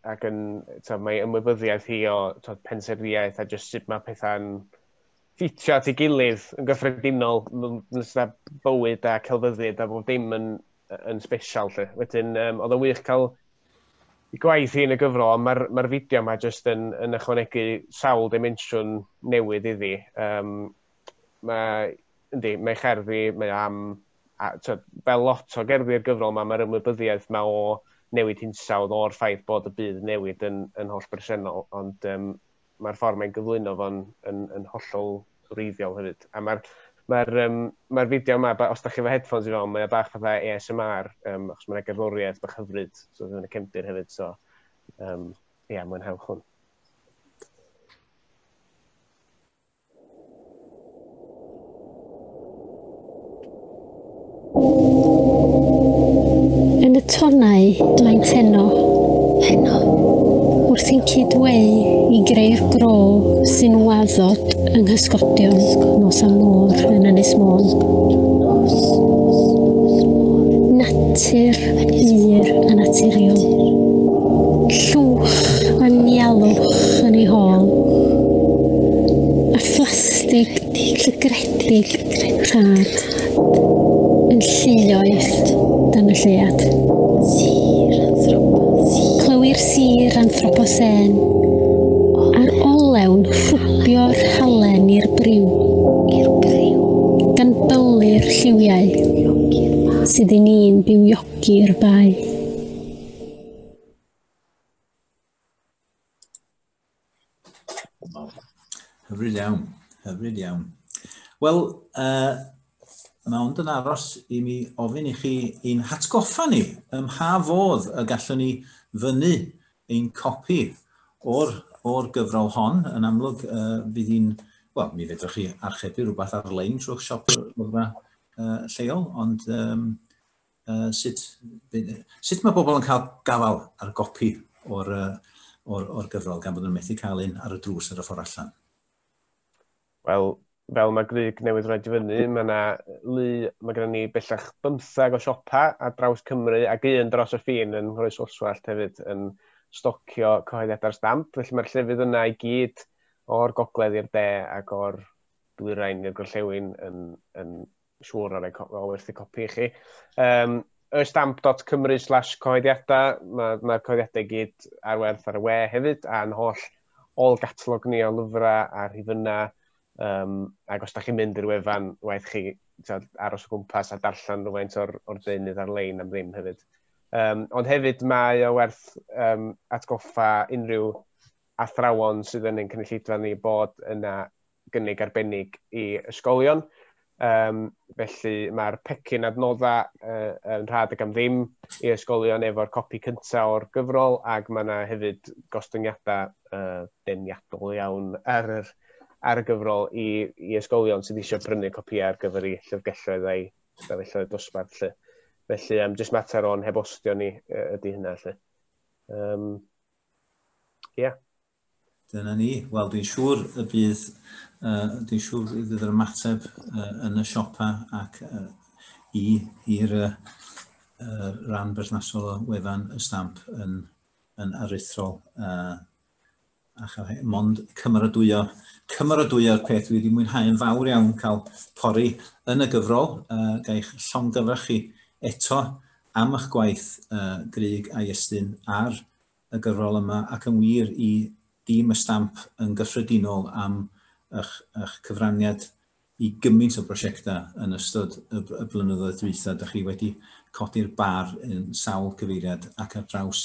ac yn, to, mae ymwybyddiaeth hi o to, pensaernïaeth a jyst sut mae pethau'n ffitio at ei gilydd yn gyffredinol, nes na bywyd a celfyddyd a bob dim yn, yn special lle. Wedyn, um, oedd yn wych cael i gwaith hi yn y gyfrol, ond mae'r ma fideo yma jyst yn, yn ychwanegu sawl dimensiwn newydd iddi. Um, mae, yndi, mae cherddi, mae am, a, tyd, fel lot o gerddi'r gyfrol yma, mae'r ymwybyddiaeth mae o newid hinsawdd o'r ffaith bod y byd newid yn, yn holl bresennol, ond um, mae'r ffordd mae'n gyflwyno fo'n yn, yn hollol wreiddiol hefyd. A mae'r ma um, ma fideo yma, os da chi efo headphones i fewn, mae o bach fatha ASMR, um, achos mae'n gerddoriaeth bach hyfryd, so yn y cefndir hefyd, so, um, ia, yeah, mwynhewch hwn. Yn y tonnau dwi'n tenno, heno, wrth i'n cyd-weu i greu'r gro sy'n waddod yng nghysgodion nos a môr yn Ynys Môn. Natur Yr anaturiol. Llwch a nialwch yn ei hôl. A phlastig llygredig rhad yn llioedd dan y llead. Clywir sir anthroposen a'r olewn rhwbio'r halen i'r briw. Gan byllu'r lliwiau. sydd i ni'n bywiogi i'r bae. Hyfryd iawn, hyfryd iawn. Wel, uh, mae ond yn aros i mi ofyn i chi i'n hatgoffa ni ym mha fodd y gallwn ni fyny ein copi o'r, or gyfrol hon. Yn amlwg, uh, bydd hi'n... Wel, mi fedrwch chi archebu rhywbeth ar-lein trwy'ch siop lyfrau uh, lleol, ond um, uh, sut, sut mae pobl yn cael gafael ar gopi o'r, uh, or, or gyfrol gan bod nhw'n methu cael un ar y drws ar y ffordd allan? Wel, fel mae Gryg newydd rhaid i fyny, mae yna lu, mae gennym ni bellach bymthag o siopa a draws Cymru ac un dros y ffin yn Nghroes Olswallt hefyd yn stocio cyhoeddiadau'r stamp. Felly mae'r llefydd yna i gyd o'r gogledd i'r de ac o'r dwyrain i'r gorllewin yn, yn siŵr ar ei o werthu copi i chi. Um, ystamp.cymru slash coediadau, mae'r ma coediadau gyd ar werth ar y we hefyd, a'n holl ôl gatalog ni o lyfrau a rhifynnau, um, ac os da chi'n mynd i'r wefan, waith chi tyd, aros o gwmpas a darllen rhywfaint o'r, or deunydd ar-lein am ddim hefyd. Um, ond hefyd mae o werth um, atgoffa unrhyw athrawon sydd yn ein cynulleidfa ni bod yna gynnig arbennig i ysgolion. Um, felly mae'r pecyn adnoddau uh, yn rhad ag am ddim i ysgolion efo'r copi cyntaf o'r gyfrol ac mae yna hefyd gostyngiadau uh, deniadol iawn ar, yr, ar y gyfrol i, i ysgolion sydd eisiau brynu copi ar gyfer ei llyfrgelloedd a'i stafelloedd dosbarth. Lle. Felly, um, jyst mater o'n hebostio ni uh, ydy hynna. Lle. Um, Ie. Yeah. Dyna ni. Wel, dwi'n siŵr y bydd, uh, dwi'n siŵr y bydd yr ymateb uh, yn y siopa ac uh, i'r uh, uh, ran berthnasol o wefan y stamp yn, yn aruthrol. Uh, a chael he, mond cymeradwyo, cymeradwyo'r peth wedi mwynhau yn fawr iawn cael pori yn y gyfrol, uh, gael eich llongyfarch chi eto am eich gwaith Grug a Iestyn ar y gyfrol yma ac yn wir i dîm y Stamp yn gyffredinol am eich cyfraniad i gymaint o brosiectau yn ystod y blynyddoedd dwytha. Dych chi wedi codi'r bar yn sawl cyfeiriad ac ar draws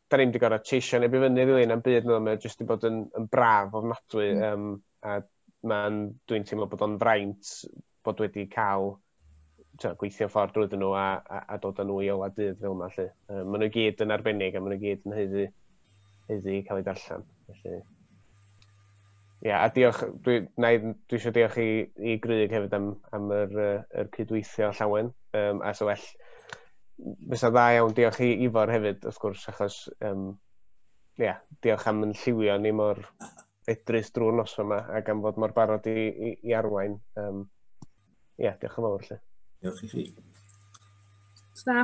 da ni'n mynd i gorau teisio neb i fyny rili na'm byd, mae jyst wedi bod yn, yn braf ofnadwy, mm. um, a mae'n, dwi'n teimlo bod o'n fraint bod wedi cael twa, gweithio ffordd drwy nhw a, a, a dod â nhw i ola dydd fel yma. Lle. Um, maen nhw gyd yn arbennig a maen nhw gyd yn heiddi, heiddi cael ei darllen. Felly, Ie a diolch dwi na i dwi isio diolch i i Grug hefyd am am yr yy yr cydweithio llawen yym a sa well fysa dda iawn diolch i Ifor hefyd wrth gwrs achos yym ie diolch am yn lliwio ni mor fedrus drwy'r noson yma a gan fod mor barod i i i arwain yym ie diolch yn fawr 'lly. Diolch i chi. O's 'na